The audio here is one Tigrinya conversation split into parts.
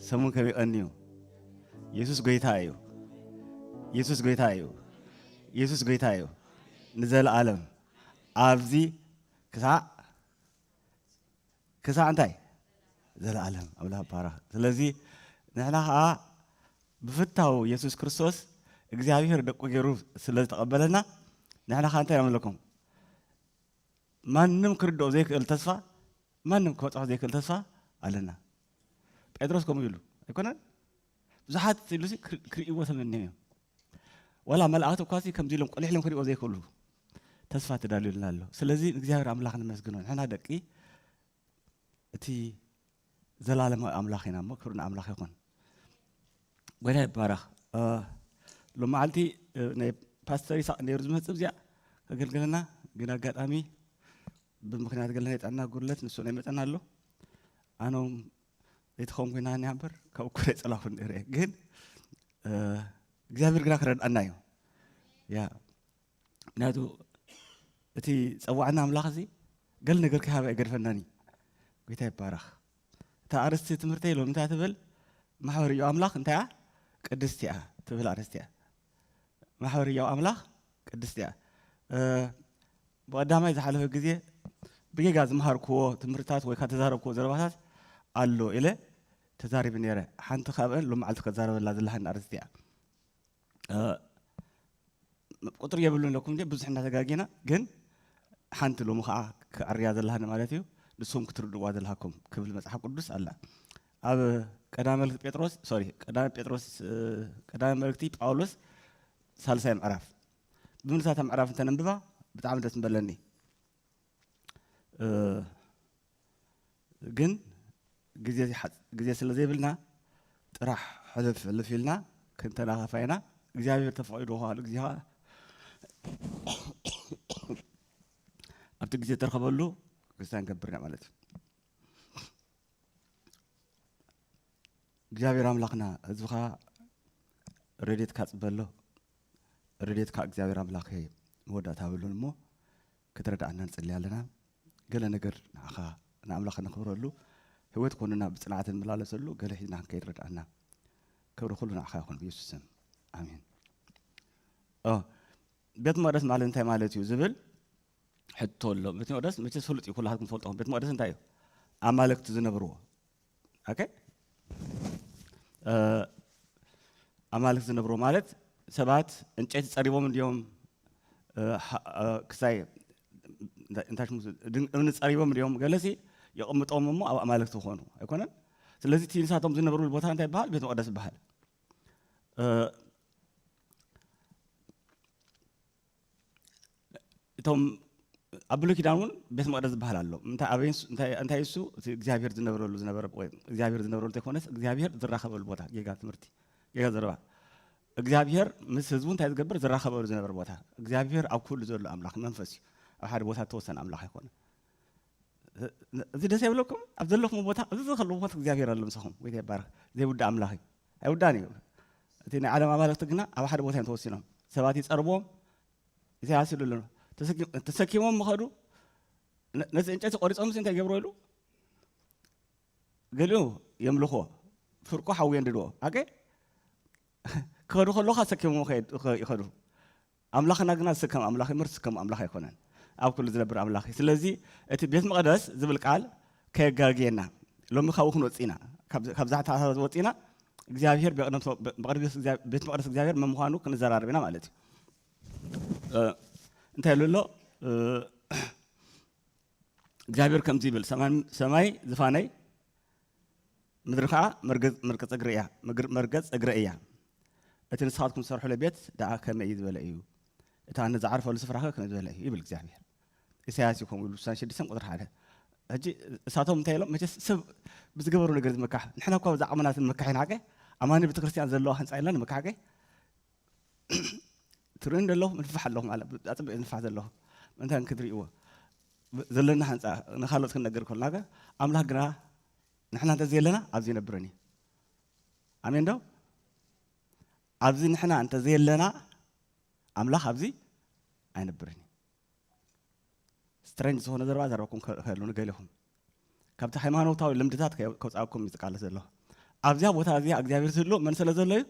ሰሙን ከም ይቐንዩ የሱስ ጎይታ እዩ የሱስ ጎይታ እዩ የሱስ ጎይታ እዩ ንዘለኣለም ኣብዚ ክሳዕ ክሳዕ እንታይ ዘለኣለም ኣብላ ባራ ስለዚ ንሕና ከዓ ብፍታው የሱስ ክርስቶስ እግዚኣብሔር ደቁ ገይሩ ስለ ዝተቐበለና ንሕና ከዓ እንታይ ኣምለኩም ማንም ክርድኦ ዘይክእል ተስፋ ማንም ክበጽሖ ዘይክእል ተስፋ ኣለና ጴጥሮስ ከምኡ ይብሉ ኣይኮነን ብዙሓት ኢሉ ክርእይዎ ተመንዮም እዮም ዋላ መላእክቲ እኳ ከምዚ ኢሎም ቁልሕ ኢሎም ክርእይዎ ዘይክእሉ ተስፋ ተዳልዩልና ኣሎ ስለዚ እግዚኣብሔር ኣምላኽ ንመስግኖ ንሕና ደቂ እቲ ዘላለማዊ ኣምላኽ ኢና እሞ ክብሪ ንኣምላኽ ይኹን ጎይታ ይባረኽ ሎም መዓልቲ ናይ ፓስተር ይስቅ ነይሩ ዝመፅእ እዚኣ ከገልግለና ግን ኣጋጣሚ ብምክንያት ገለ ናይ ጥዕና ጉድለት ንሱ ናይ መጠን ኣሎ ኣነም ዘይትኸውን ኮይና እኒኣ እምበር ካብ እኮ ናይ ፀላኹ ነይረ ግን እግዚኣብሔር ግና ክረድኣና እዩ ያ ምክንያቱ እቲ ፀዋዕና ኣምላኽ እዚ ገል ነገር ከሃብ ኣይገድፈናን እዩ ጎይታ ይባረኽ እታ ኣርስቲ ትምህርተይ ሎም እንታይ ትብል ማሕበር እዮ ኣምላኽ እንታይ እያ ቅድስቲ እያ ትብል ኣርስቲ እያ ማሕበር እዮ ኣምላኽ ቅድስቲ እያ ብቀዳማይ ዝሓለፈ ግዜ ብጌጋ ዝመሃርክዎ ትምህርትታት ወይ ካብ ተዛረብክዎ ዘረባታት ኣሎ ኢለ ተዛሪቢ ነይረ ሓንቲ ካብአን ሎም መዓልቲ ከዛረበላ ዘለሃኒ ኣርስቲ እያ ቁፅሪ የብሉን ኣለኩም እንጂ ብዙሕ እናተጋጊና ግን ሓንቲ ሎሚ ከዓ ክዕርያ ዘለሃኒ ማለት እዩ ንስኹም ክትርድዋ ዘለሃኩም ክብል መፅሓፍ ቅዱስ ኣላ ኣብ ቀዳመ መልእክቲ ጴጥሮስ ሶሪ ቀዳመ ጴጥሮስ ቀዳመ መልእክቲ ጳውሎስ ሳልሳይ ምዕራፍ ብምልሳታ ምዕራፍ እንተነንብባ ብጣዕሚ ደስ ምበለኒ ግን ግዜ ስለ ዘይብልና ጥራሕ ሕልፍ ሕልፍ ኢልና ክንተናኸፋ ኢና እግዚኣብሔር ተፈቒዱ ከዋሉ ግዜ ከዓ ኣብቲ ግዜ ተረኸበሉ ክርስቲያን ገብርና ማለት እዩ እግዚኣብሔር ኣምላኽና ህዝብኻ ረድኤትካ ፅበሎ ረድኤትካ እግዚኣብሔር ኣምላኽ መወዳእታ ብሉን እሞ ክትረድኣና ንጽሊ ኣለና ገለ ነገር ንዓኻ ንኣምላኽ ነኽብረሉ ህይወት ኮንና ብጽንዓት ንመላለሰሉ ገለ ሒዝና ክንከይድ ረድኣና ክብሪ ኩሉ ንዓኻ ይኹን ብየሱስ ስም ኣሜን ቤት መቅደስ ማለት እንታይ ማለት እዩ ዝብል ሕቶ ኣሎ ቤት መቅደስ መቸስ ፍሉጥ እዩ ኩላትኩም ትፈልጦ ቤት መቅደስ እንታይ እዩ ኣማለክቲ ዝነብርዎ ኦኬ እ፣ ኣማልክ ዝነብሮ ማለት ሰባት እንጨይቲ ጸሪቦም እንድዮም እ፣ ሀ- እ፣ ክሳይ እንታይ እንታይ ሽሙ ዝ- ድን- እምኒ ጸሪቦም እንድዮም ገለሲ የቐምጦም እሞ ኣብ ኣማልክቲ ኾኑ ኣይኮነን ስለዚ እቲ ንሳቶም ዝነብርሉ ቦታ እንታይ ይበሃል ቤት መቐደስ ይበሃል እ፣ እቶም ኣብ ብሉይ ኪዳን እውን ቤት መቅደስ ዝበሃል ኣሎ እንታይ ኣበይ ንሱ- እንታይ- እንታይ እሱ እቲ እግዚኣብሔር ዝነብረሉ ዝነበረ ወይ እግዚኣብሔር ዝነብረሉ ዘይኮነስ እግዚኣብሔር ዝራኸበሉ ቦታ ጌጋ ትምህርቲ ጌጋ ዘረባ እግዚኣብሔር ምስ ህዝቡ እንታይ ዝገብር ዝራኸበሉ ዝነበረ ቦታ እግዚኣብሔር ኣብ ኩሉ ዘሎ ኣምላኽ መንፈስ እዩ ኣብ ሓደ ቦታ ተወሰነ ኣምላኽ ኣይኮነ እዚ ደስ የብለኩም ኣብ ዘለኹም ቦታ እዚ ዘለኹም ቦታ እግዚኣብሔር ኣሎ ምሳኹም ወይ ይባረኽ ዘይውዳእ ኣምላኽ እዩ ኣይውዳእን እዩ። እቲ ናይ ዓለም ኣማልኽቲ ግና ኣብ ሓደ ቦታ እዮም ተወሲኖም። ሰባት ይጸርብዎም፣ ኢሳያስ ይብሉ ኣሎ ተሰኪሞም ምኸዱ ነቲ ዕንጨይቲ ቆሪጾምሲ እንታይ ገብሮ ኢሉ ገሊኡ የምልኽዎ ፍርቁ ሓዊ የንድድዎ ኣገ ክኸዱ ከለኻ ሰኪሞም ይኸዱ ኣምላኽና ግና ንሱ ከም ኣምላኽ እዩ እምበር ንሱ ከም ኣምላኽ ኣይኮነን። ኣብ ኩሉ ዝነብር ኣምላኽ እዩ። ስለዚ እቲ ቤት መቕደስ ዝብል ቃል ከየጋግየና። ሎሚ ካብኡ ክንወጽእ ኢና። ካብ ካብዛ ኣተሓሳስባ ወጺእና እግዚኣብሄር ብቕደም ሰ- ብ- ብቕድሚ ቤት እግዚኣብ- ቤት መቕደስ እግዚኣብሄር መን ምዃኑ ክንዘራረብ ኢና ማለት እዩ። እ፣ እንታይ ኢሉ ኣሎ? እ፣ እግዚኣብሄር ከምዚ ይብል፣ ሰማይ ዝፋነይ፣ ምድሪ ኸዓ መርገፅ እግረይ እያ፣ መርገፅ እግረይ እያ፣ እቲ ንስኻትኩም ትሰርሑለይ ቤት ደኣ ከመይ እዩ ዝበለ እዩ፣ እቲ ኣነ ዝዓርፈሉ ስፍራኸ ከመይ ዝበለ እዩ ይብል እግዚኣብሄር። ኢሳያስ እዩ ከምኡ ኢሉ ስሳን ሽድስተን ቁፅሪ ሓደ ሕጂ እሳቶም እንታይ ኢሎም መቸስ ሰብ ብዝገበሩ ነገር ዝመካሕ ንሕና እኳ ብዛዕባ ዓመናት ንመካሕ ኢና ሓቀ ኣማኒ ቤተክርስትያን ዘለዋ ህንፃ ኢልና ንመካሕ ሓቀ ትርኢ ደለኹ ንፋሕ ኣለኹ ማለት ኣፅብቅ ንፋሕ ዘለኹ ምእንታን ክትርእይዎ ዘለና ሓንፃ ንካልኦት ክንነገር ከልና ገ ኣምላኽ ግና ንሕና እንተዘየለና ኣብዚ ይነብረን እዩ ኣሜን ዶ ኣብዚ ንሕና እንተዘየለና ኣምላኽ ኣብዚ ኣይነብርን እዩ ስትረንጅ ዝኾነ ዘረባ ዘረባኩም ከሉ ንገሊኹም ካብቲ ሃይማኖታዊ ልምድታት ከውፃኩም እዩ ዝቃለስ ዘለኹ ኣብዚያ ቦታ እዚኣ እግዚኣብሔር ዝህሉ መን ስለ ዘሎ እዩ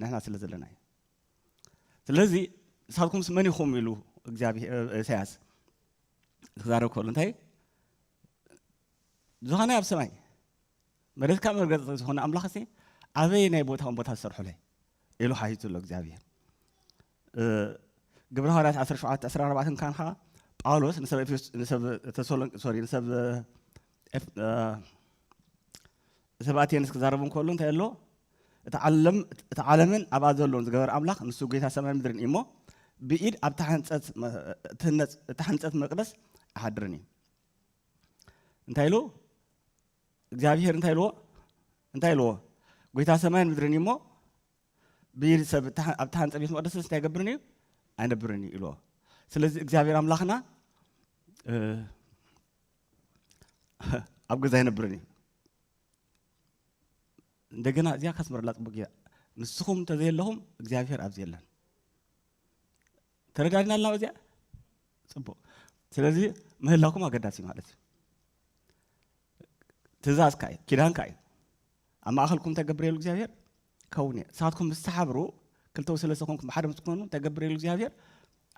ንሕና ስለ ዘለና እዩ ስለዚ ንሳትኩምስ መን ኢኹም ኢሉ እግዚኣብሄር ኢሳያስ ክዛረብ ከሎ እንታይ ዝኾነ ኣብ ሰማይ መሬትካ መርገጽ ዝኾነ ኣምላኽ ሲ ኣበይ ናይ ቦታውን ቦታ ዝሰርሑለይ ኢሉ ሓቲቱ ኣሎ እግዚኣብሄር ግብረ ሃዋርያት 17 14 ካን ከዓ ጳውሎስ ንሰብ ተሰሎንቅ ሶሪ ንሰብ ሰባቴንስ ክዛረብ እንከሎ እንታይ ኣሎ እቲ ዓለም እቲ ዓለምን ኣብኣ ዘሎን ዝገበረ ኣምላኽ ንሱ ጌታ ሰማይ ምድርን እዩ እሞ ብኢድ ኣብ ተሓንፀት ትህነፅ እተሓንፀት መቅደስ ኣይሓድርን እዩ እንታይ ኢሉ እግዚኣብሄር እንታይ ኢልዎ እንታይ ኢልዎ ጌታ ሰማይን ምድርን እዩ እሞ ብኢድ ሰብ ኣብ ተሓንፀ ቤት መቅደስስ እንታይ ይገብርን እዩ ኣይነብርን እዩ ኢልዎ ስለዚ እግዚኣብሄር ኣምላኽና ኣብ ገዛ ኣይነብርን እዩ እንደገና እዚኣ ካስመረላ ፅቡቅ እያ ንስኹም እንተዘየለኹም እግዚኣብሔር ኣብዚ የለን ተረዳድና ኣልና በዚኣ ፅቡቅ ስለዚ ምህላኩም ኣገዳሲ ማለት እዩ ትእዛዝካ እዩ ኪዳንካ እዩ ኣብ ማእኸልኩም ተገብሬሉ እግዚኣብሔር ከውን እየ ንሳትኩም ምስ ተሓብሩ ክልተው ስለ ዝኾንኩም ብሓደ ምስ ትኮኑ ተገብሬሉ እግዚኣብሔር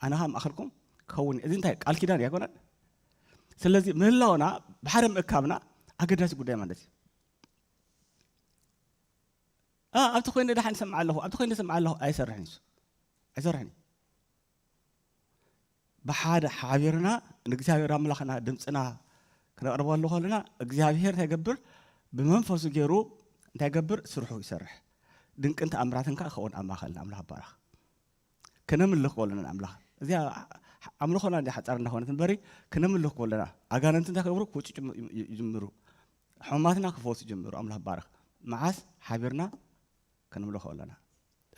ኣነ ከዓ ማእኸልኩም ከውን እየ እዚ እንታይ ቃል ኪዳን እዩ ኣይኮነን ስለዚ ምህላውና ብሓደ ምእካብና ኣገዳሲ ጉዳይ ማለት እዩ ኣብቲ ኮይነ ደሓን ሰምዓ ኣለኹ ኣብቲ ኮይነ ሰምዓ ኣለኹ ኣይሰርሕን እዩ ኣይሰርሕን እዩ ብሓደ ሓቢርና ንእግዚኣብሔር ኣምላኽና ድምፅና ክነቕርበሉ ከለና እግዚኣብሔር እንታይ ይገብር ብመንፈሱ ገይሩ እንታይ ይገብር ስርሑ ይሰርሕ ድንቅን ተኣምራትን ከዓ ክኸውን ኣብ ማእኸልና ኣምላኽ ባረኽ ክነምልኽ ከለና ኣምላኽ እዚያ ኣምልኾና እንዲ ሓፃር እንዳኾነት እምበሪ ክነምልኽ ከለና ኣጋንንቲ እንታይ ክገብሩ ክውጭጭ ይጅምሩ ሕማማትና ክፈውሱ ይጅምሩ ኣምላኽ ባረኽ መዓስ ሓቢርና ክንምልኾ ኣለና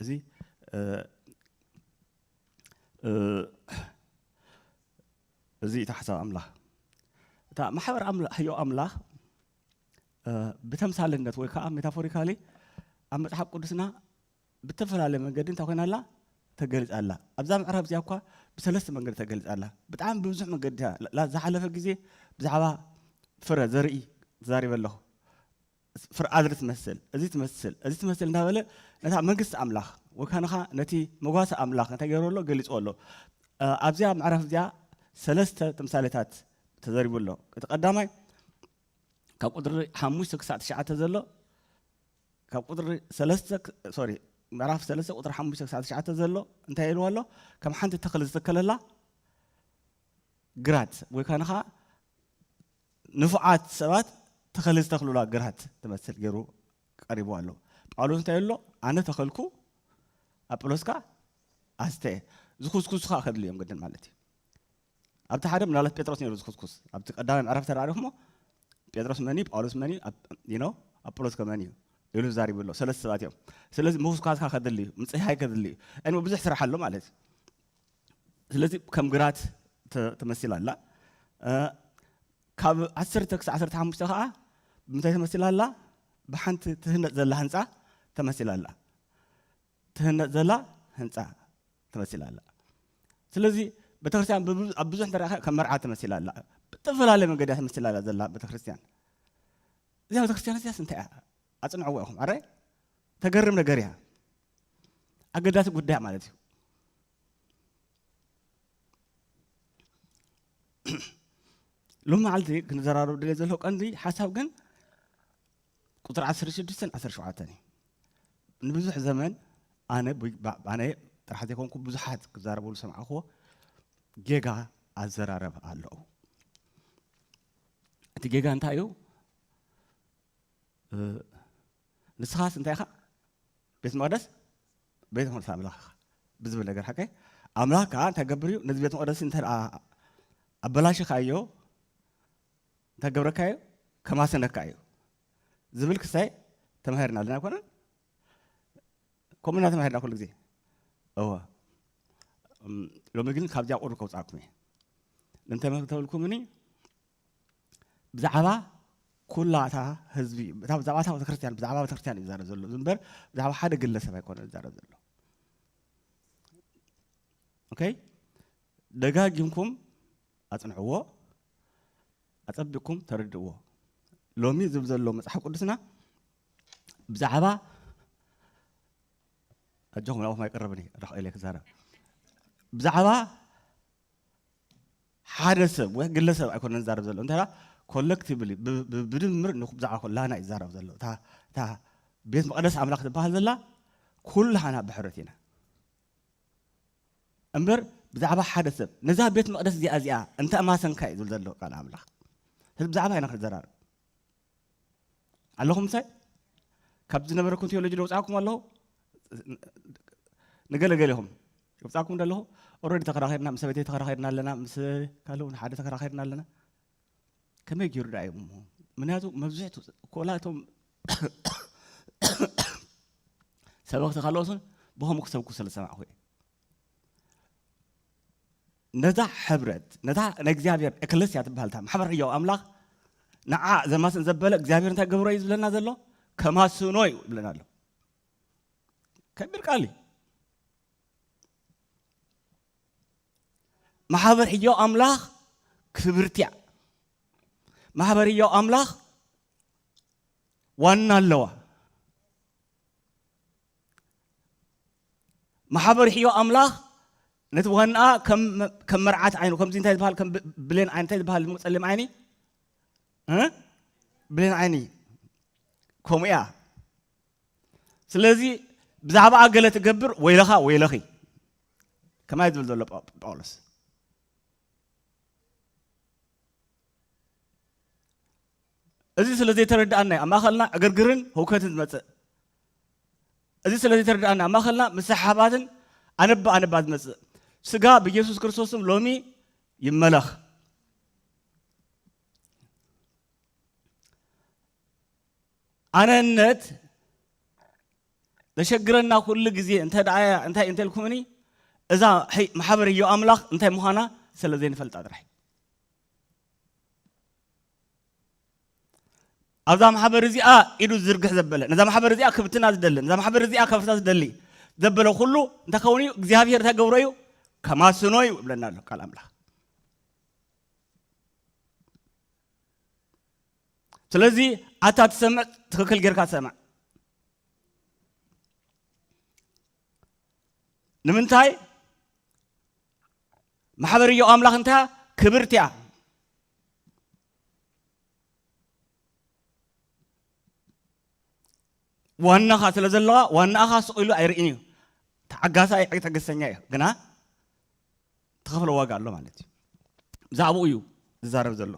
እዚ እዚ እቲ ሓሳብ ኣምላኽ እታ ማሕበር ሕዮ ኣምላኽ ብተምሳልነት ወይ ከዓ ሜታፎሪካሊ ኣብ መፅሓፍ ቅዱስና ብተፈላለየ መንገዲ እንታይ ኮይና ኣላ ተገሊፃ ኣላ ኣብዛ ምዕራብ እዚኣ እኳ ብሰለስተ መንገዲ ተገሊፃ ኣላ ብጣዕሚ ብብዙሕ መንገዲ ዝሓለፈ ግዜ ብዛዕባ ፍረ ዘርኢ ተዛሪበ ኣለኹ ፍርኣድሪ ትመስል እዚ ትመስል እዚ ትመስል እንዳበለ ነታ መንግስቲ ኣምላኽ ወይ ካንኻ ነቲ መጓሰ ኣምላኽ እንታይ ገይሩ ኣሎ ገሊጹ ኣሎ ኣብዚያ ምዕራፍ እዚኣ ሰለስተ ተምሳሌታት ተዘሪቡ ኣሎ እቲ ቀዳማይ ካብ ቁጥሪ ሓሙሽተ ክሳዕ ትሽዓተ ዘሎ ካብ ቁጥሪ ሰለስተ ሶሪ ምዕራፍ ሰለስተ ቁጥሪ ሓሙሽተ ክሳዕ ትሽዓተ ዘሎ እንታይ ኢልዎ ኣሎ ከም ሓንቲ ተኽሊ ዝተከለላ ግራት ወይ ካንኻ ንፉዓት ሰባት ተኸሊ ዝተኽሉላ ግራት ትመስል ገይሩ ቀሪብዋ ኣሎ። ጳውሎስ እንታይ ይብሎ? ኣነ ተኸልኩ፣ ኣጵሎስ ከኣ ኣስተየ። ዝኹስኩሱ ከኣ ከድልዩ እዮም ግድን ማለት እዩ። ኣብቲ ሓደ ምናልባት ጴጥሮስ ነይሩ ዝኹስኩስ። ኣብቲ ቀዳማይ ምዕራፍ ተራሪኹሞ ጴጥሮስ መን እዩ? ጳውሎስ መን እዩ? ዩ ኣጵሎስ ከ መን እዩ? ኢሉ ዛሪቡ ኣሎ ሰለስተ ሰባት እዮም ስለዚ ምውስኳስካ ከድሊ እዩ ምፅህያይ ከድሊ እዩ ዕድመ ብዙሕ ስራሕ ኣሎ ማለት እዩ ስለዚ ከም ግራት ተመሲላ ኣላ ካብ ዓሰርተ ክሳዕ ዓሰርተ ሓሙሽተ ከዓ ብምንታይ ተመሲላ ኣላ ብሓንቲ ትህነፅ ዘላ ህንፃ ተመሲላ ኣላ ትህነፅ ዘላ ህንፃ ተመሲላ ኣላ ስለዚ ቤተክርስትያን ኣብ ብዙሕ እንተረእኻ ከም መርዓ ተመሲላ ኣላ ብዝተፈላለየ መንገዲ ተመሲላ ኣላ ዘላ ቤተክርስትያን እዚኣ ቤተክርስትያን እዚያስ እንታይ እያ ኣፅንዕዎ ኢኹም ኣራይ ተገርም ነገር እያ ኣገዳሲ ጉዳይ ማለት እዩ ሎሚ መዓልቲ ክንዘራረብ ድለ ዘሎ ቀንዲ ሓሳብ ግን ቁፅሪ 16 17 እዩ ንብዙሕ ዘመን ኣነ ኣነ ጥራሕ ዘይኮንኩ ብዙሓት ክዛረበሉ ሰምዓኹዎ ጌጋ ኣዘራረብ ኣለዉ እቲ ጌጋ እንታይ እዩ ንስኻስ እንታይ ኢኻ ቤት መቅደስ ቤት መቅደስ ኣምላኽ ኢኻ ብዝብል ነገር ሓቀ ኣምላኽ ከዓ እንታይ ገብር እዩ ነዚ ቤት መቅደስ እንተ ኣበላሽኻዮ እንታይ ገብረካዮ ከማሰነካ እዩ ዝብል ክሳይ ተማሂርና ኣለና ኣይኮነን ከምኡ እና ተማሂርና ኩሉ ግዜ እወ ሎሚ ግን ካብዚኣ ቁርብ ከውፃእኩም እየ እንተመክተብልኩምኒ ብዛዕባ ኩላ እታ ህዝቢ ብዛዕባ እታ ቤተክርስትያን ብዛዕባ ቤተክርስትያን እዩ ዝዛረብ ዘሎ እምበር ብዛዕባ ሓደ ግለሰብ ኣይኮነ ዝዛረብ ዘሎ ኦኬ ደጋጊምኩም ኣጽንዕዎ ኣጸቢቕኩም ተረድእዎ ሎሚ ዝብል ዘሎ መጽሓፍ ቅዱስና ብዛዕባ ኣጆኹም ናብኹም ኣይቀረብን እዩ ራክኤል ክዛረብ ብዛዕባ ሓደ ሰብ ወይ ግለ ሰብ ኣይኮነን ዝዛረብ ዘሎ እንተ ኮለክቲቭሊ ብድምር ብዛዕባ ኩላህና እዩ ዝዛረብ ዘሎ እታ ቤት መቐደስ ኣምላኽ ዝበሃል ዘላ ኩላህና ብሕረት ኢና እምበር ብዛዕባ ሓደ ሰብ ነዛ ቤት መቕደስ እዚኣ እዚኣ እንተ ማሰንካ እዩ ዝብል ዘሎ ቃል ኣምላኽ ስለዚ ብዛዕባ ኢና ክንዘራርብ ኣለኹም ምሳይ ካብ ዝነበረኩም ቴዎሎጂ ደውፃኩም ኣለኹ ንገለገሌኹም ደውፃኩም ደለኹ ኦረዲ ተከራኺርና ምስ ሰበይተይ ተከራኺርና ኣለና ምስ ካልእ እውን ሓደ ተከራኺርና ኣለና ከመይ ገይሩ ዳ እዮም ምክንያቱ መብዝሕቱ ኮላ እቶም ሰበኽቲ ካልኦትን ብከምኡ ክሰብኩ ስለ ዝሰማዕኹ እየ ነዛ ሕብረት ነታ ናይ እግዚኣብሔር ኤክለስያ ትበሃል እታ ማሕበር ሕያው ኣምላኽ ንዓ ዘማስን ዘበለ እግዚኣብሔር እንታይ ገብሮ እዩ ዝብለና ዘሎ ከማስኖ እዩ ይብለና ኣሎ ከቢድ ቃል እዩ ማሕበር ሕያው ኣምላኽ ክብርቲ እያ ማሕበር ሕያው ኣምላኽ ዋና ኣለዋ ማሕበር ሕዮ ኣምላኽ ነቲ ዋናኣ ከም መርዓት ዓይኑ ከምዚ እንታይ ዝበሃል ከም ብሌን ዓይኒ እንታይ ዝበሃል ድሞ ጸሊም ዓይኒ ብሌን ዓይኒ ከምኡ እያ ስለዚ ብዛዕባኣ ገለ ትገብር ወይለኻ ወይለኺ ከማይ ዝብል ዘሎ ጳውሎስ እዚ ስለ ዘይተረድኣና ኣብ ማእኸልና ዕግርግርን ህውከትን ዝመፅእ እዚ ስለ ዘይተረድኣና ኣብ ማእኸልና ምስሓባትን ኣነባ ኣነባ ዝመፅእ ስጋ ብኢየሱስ ክርስቶስም ሎሚ ይመለኽ ኣነነት ዘሸግረና ኩሉ ግዜ እንተ እንታይ እንተልኩምኒ እዛ ማሕበር እዮ ኣምላኽ እንታይ ምዃና ስለ ዘይንፈልጣ ጥራሕ ኣብዛ ማሕበር እዚኣ ኢዱ ዝዝርግሕ ዘበለ ነዛ ማሕበር እዚኣ ክብትና ዝደሊ ነዛ ማሕበር እዚኣ ከፍርሳ ዝደሊ ዘበለ ኩሉ እንታይ ከውን እዩ እግዚኣብሄር እንታይ ገብሮ እዩ ከማስኖ እዩ እብለና ኣሎ ቃል ኣምላኽ ስለዚ ኣታ ትሰምዕ ትክክል ጌርካ ሰምዕ ንምንታይ ማሕበር እዮ ኣምላኽ እንታ ክብርቲ እያ ዋናኻ ስለ ዘለዋ ዋናኻ ስቕ ኢሉ ኣይርእን እዩ ተዓጋሳ እዩ ትዕግስተኛ እዩ ግና ተኸፍለ ዋጋ ኣሎ ማለት እዩ ብዛዕባኡ እዩ ዝዛረብ ዘሎ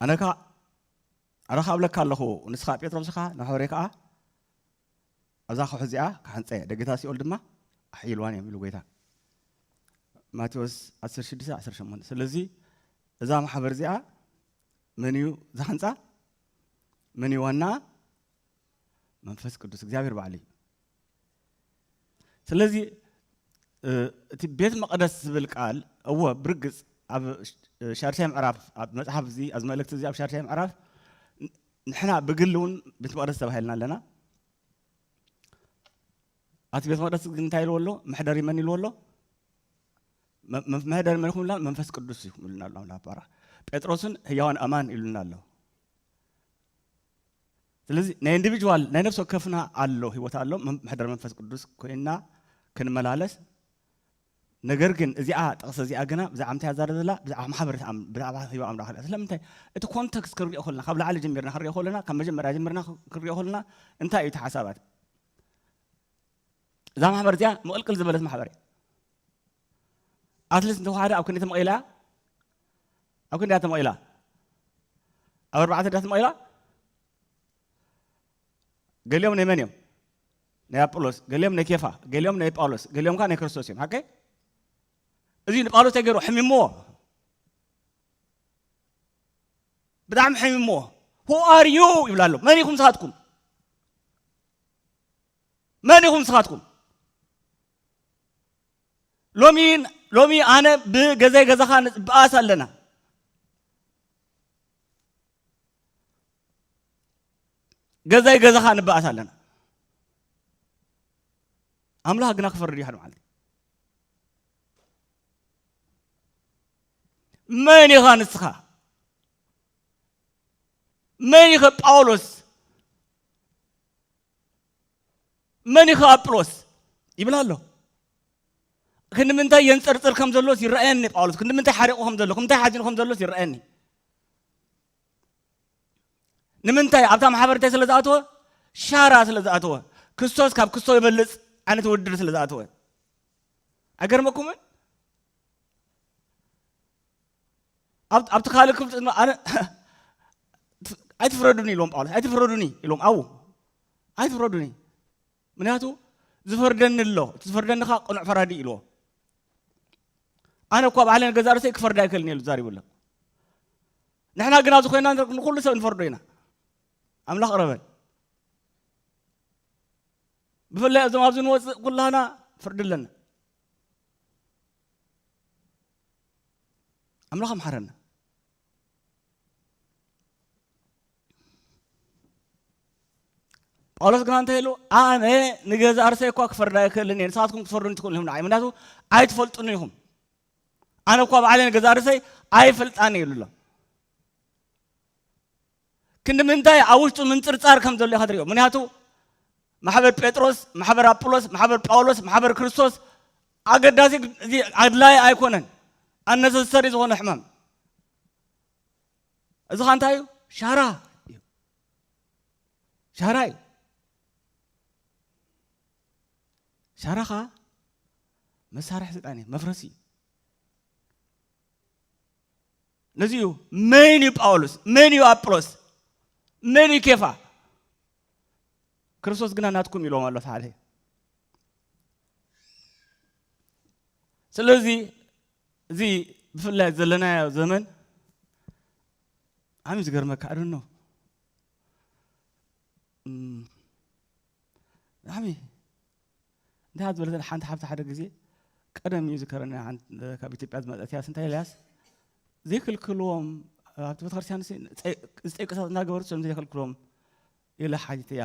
ኣነ ከኣ ኣረ ካብለካ ኣለኹ ንስኻ ጴጥሮስ ኢኻ ንሐወሬ ከኣ ኣብዛ ከውሒ እዚኣ ክሓንፀ እየ ደገታ ሲኦል ድማ ኣሕይልዋን እዮም ኢሉ ጎይታ ማቴዎስ 16 18 ስለዚ እዛ ማሕበር እዚኣ መን እዩ ዝሃንፃ መን እዩ ዋና መንፈስ ቅዱስ እግዚኣብሔር ባዕሉ እዩ ስለዚ እቲ ቤት መቐደስ ዝብል ቃል እወ ብርግፅ ኣብ ሻድሻይ ምዕራፍ ኣብ መፅሓፍ እዚ ኣብ መልእክቲ እዚ ኣብ ሻድሻይ ምዕራፍ ንሕና ብግሊ እውን ቤት መቕደስ ተባሂልና ኣለና ኣቲ ቤት መቕደስ ግን እንታይ ኢልዎ ኣሎ መሕደሪ መን ኢልዎ ኣሎ መሕደሪ መን ይኹምልና መንፈስ ቅዱስ እዩ ኢሉና ኣሎ ኣምላኽ ባራ ጴጥሮስን ህያዋን ኣማን ኢሉና ኣሎ ስለዚ ናይ ኢንዲቪጅዋል ናይ ነፍሲ ወከፍና ኣሎ ህይወት ኣሎ ምሕደር መንፈስ ቅዱስ ኮይና ክንመላለስ ነገር ግን እዚኣ ጥቕሲ እዚኣ ግና ብዛዕባ ምንታይ ኣዛረብ ዘላ ብዛዕባ ማሕበረት ብዛዕባ ህይወ ኣምላኽ እያ ስለምንታይ እቲ ኮንተክስት ክንሪኦ ከለና ካብ ላዕሊ ጀሚርና ክንሪኦ ከለና ካብ መጀመርያ ጀሚርና ክንሪኦ ከለና እንታይ እዩ እቲ ሓሳባት እዛ ማሕበር እዚኣ ምቕልቅል ዝበለት ማሕበር እያ ኣትሊት እንተወሓደ ኣብ ክንዲ ተመቒላ ኣብ ክንዲ እያ ተመቒላ ኣብ ኣርባዕተ ድያ ተመቒላ ገሊኦም ናይ መን እዮም ናይ ኣጵሎስ ገሊኦም ናይ ኬፋ ገሊኦም ናይ ጳውሎስ ገሊኦም ከዓ ናይ ክርስቶስ እዮም ሓቀይ እዚ ንጳውሎስ ተገይሩ ሕሚምዎ ብጣዕሚ ሕሚምዎ ሁ ኣር ዩ ይብላ ኣሎ መን ኢኹም ንስኻትኩም መን ኢኹም ንስኻትኩም ሎሚ ሎሚ ኣነ ብገዛይ ገዛኻ ንፅበኣስ ኣለና ገዛይ ገዛኻ ንበኣስ ኣለና ኣምላኽ ግና ክፈርድ ይሓድ መዓልቲ መን ኢኻ ንስኻ መን ኢኸ ጳውሎስ መን እዩ ከዓ ኣጵሎስ ይብል ኣሎ ክንዲ ምንታይ የንፀርፅር ከም ዘሎስ ይረኣየኒ ጳውሎስ ክንዲ ምንታይ ሓሪቑ ከም ዘሎ ክንታይ ሓዚኑ ከም ዘሎስ ይረኣየኒ ንምንታይ ኣብታ ማሕበርታይ ስለ ዝኣተወ ሻራ ስለ ዝኣተወ ክስቶስ ካብ ክስቶ ይበልፅ ዓይነት ውድድር ስለ ዝኣተወ ኣይገርመኩምን ኣብቲ ካልእ ክፍሊ ድማ ኣነ ኣይትፍረዱኒ ኢሎም ጳውሎስ ኣይትፍረዱኒ ኢሎም ኣው ኣይትፍረዱኒ ምክንያቱ ዝፈርደኒ ኣሎ እቲ ዝፈርደኒ ከዓ ቅኑዕ ፈራዲ ኢልዎ ኣነ እኳ ባዕለ ገዛ ርእሰይ ክፈርድ ኣይክእልን ኢሉ ዛሪቡ ኣሎ ንሕና ግን ኣብዚ ኮይና ንኩሉ ሰብ ንፈርዶ ኢና ኣምላኽ ቅረበን ብፍላይ እዞም ኣብዚ ንወፅእ ኩላና ፍርዲ ኣለና ኣምላኽ ኣምሓረና ጳውሎስ ግና እንታይ ኢሉ ኣነ ንገዛ ኣርሰ እኳ ክፈርዳ ኣይክእልን እየ ንስኻትኩም ክትፈርዱን ትኽእሉ ኢኹም ንዓይ ምክንያቱ ኣይትፈልጡን ኢኹም ኣነ እኳ ባዕለ ንገዛ ኣርሰይ ኣይፈልጣን ኢሉ ኣሎ ክንዲ ምንታይ ኣብ ውሽጡ ምንጽርጻር ከም ዘሎ ኢኻ ትሪኦ ምክንያቱ ማሕበር ጴጥሮስ ማሕበር ኣጵሎስ ማሕበር ጳውሎስ ማሕበር ክርስቶስ ኣገዳሲ እዚ ኣድላይ ኣይኮነን ኣነሰሰሪ ዝኾነ ሕማም እዚ ኸ እንታይ እዩ ሻራ እዩ ሻራ እዩ ሻራ ኸዓ መሳርሒ ስልጣን እዩ መፍረሲ እዩ ነዚ እዩ መን እዩ ጳውሎስ መን እዩ ኣጵሎስ መን እዩ ኬፋ ክርስቶስ ግና ናትኩም ኢሎም ኣሎ ሓደ ስለዚ እዚ ብፍላይ ዘለናዮ ዘመን ዓሚ ዝገርመካ ኣደኖ ዓሚ እንታይ እያ ዝበለተኒ ሓንቲ ሓብቲ ሓደ ግዜ ቀደም እዩ ዝከረኒ ካብ ኢትዮጵያ ዝመፀት እያ ስንታይ ኢልያስ ዘይክልክልዎም ኣብቲ ቤተክርስትያን ዝጠይቅሳት እናገበርት ሰም ዘይክልክልዎም ኢለ ሓጅት እያ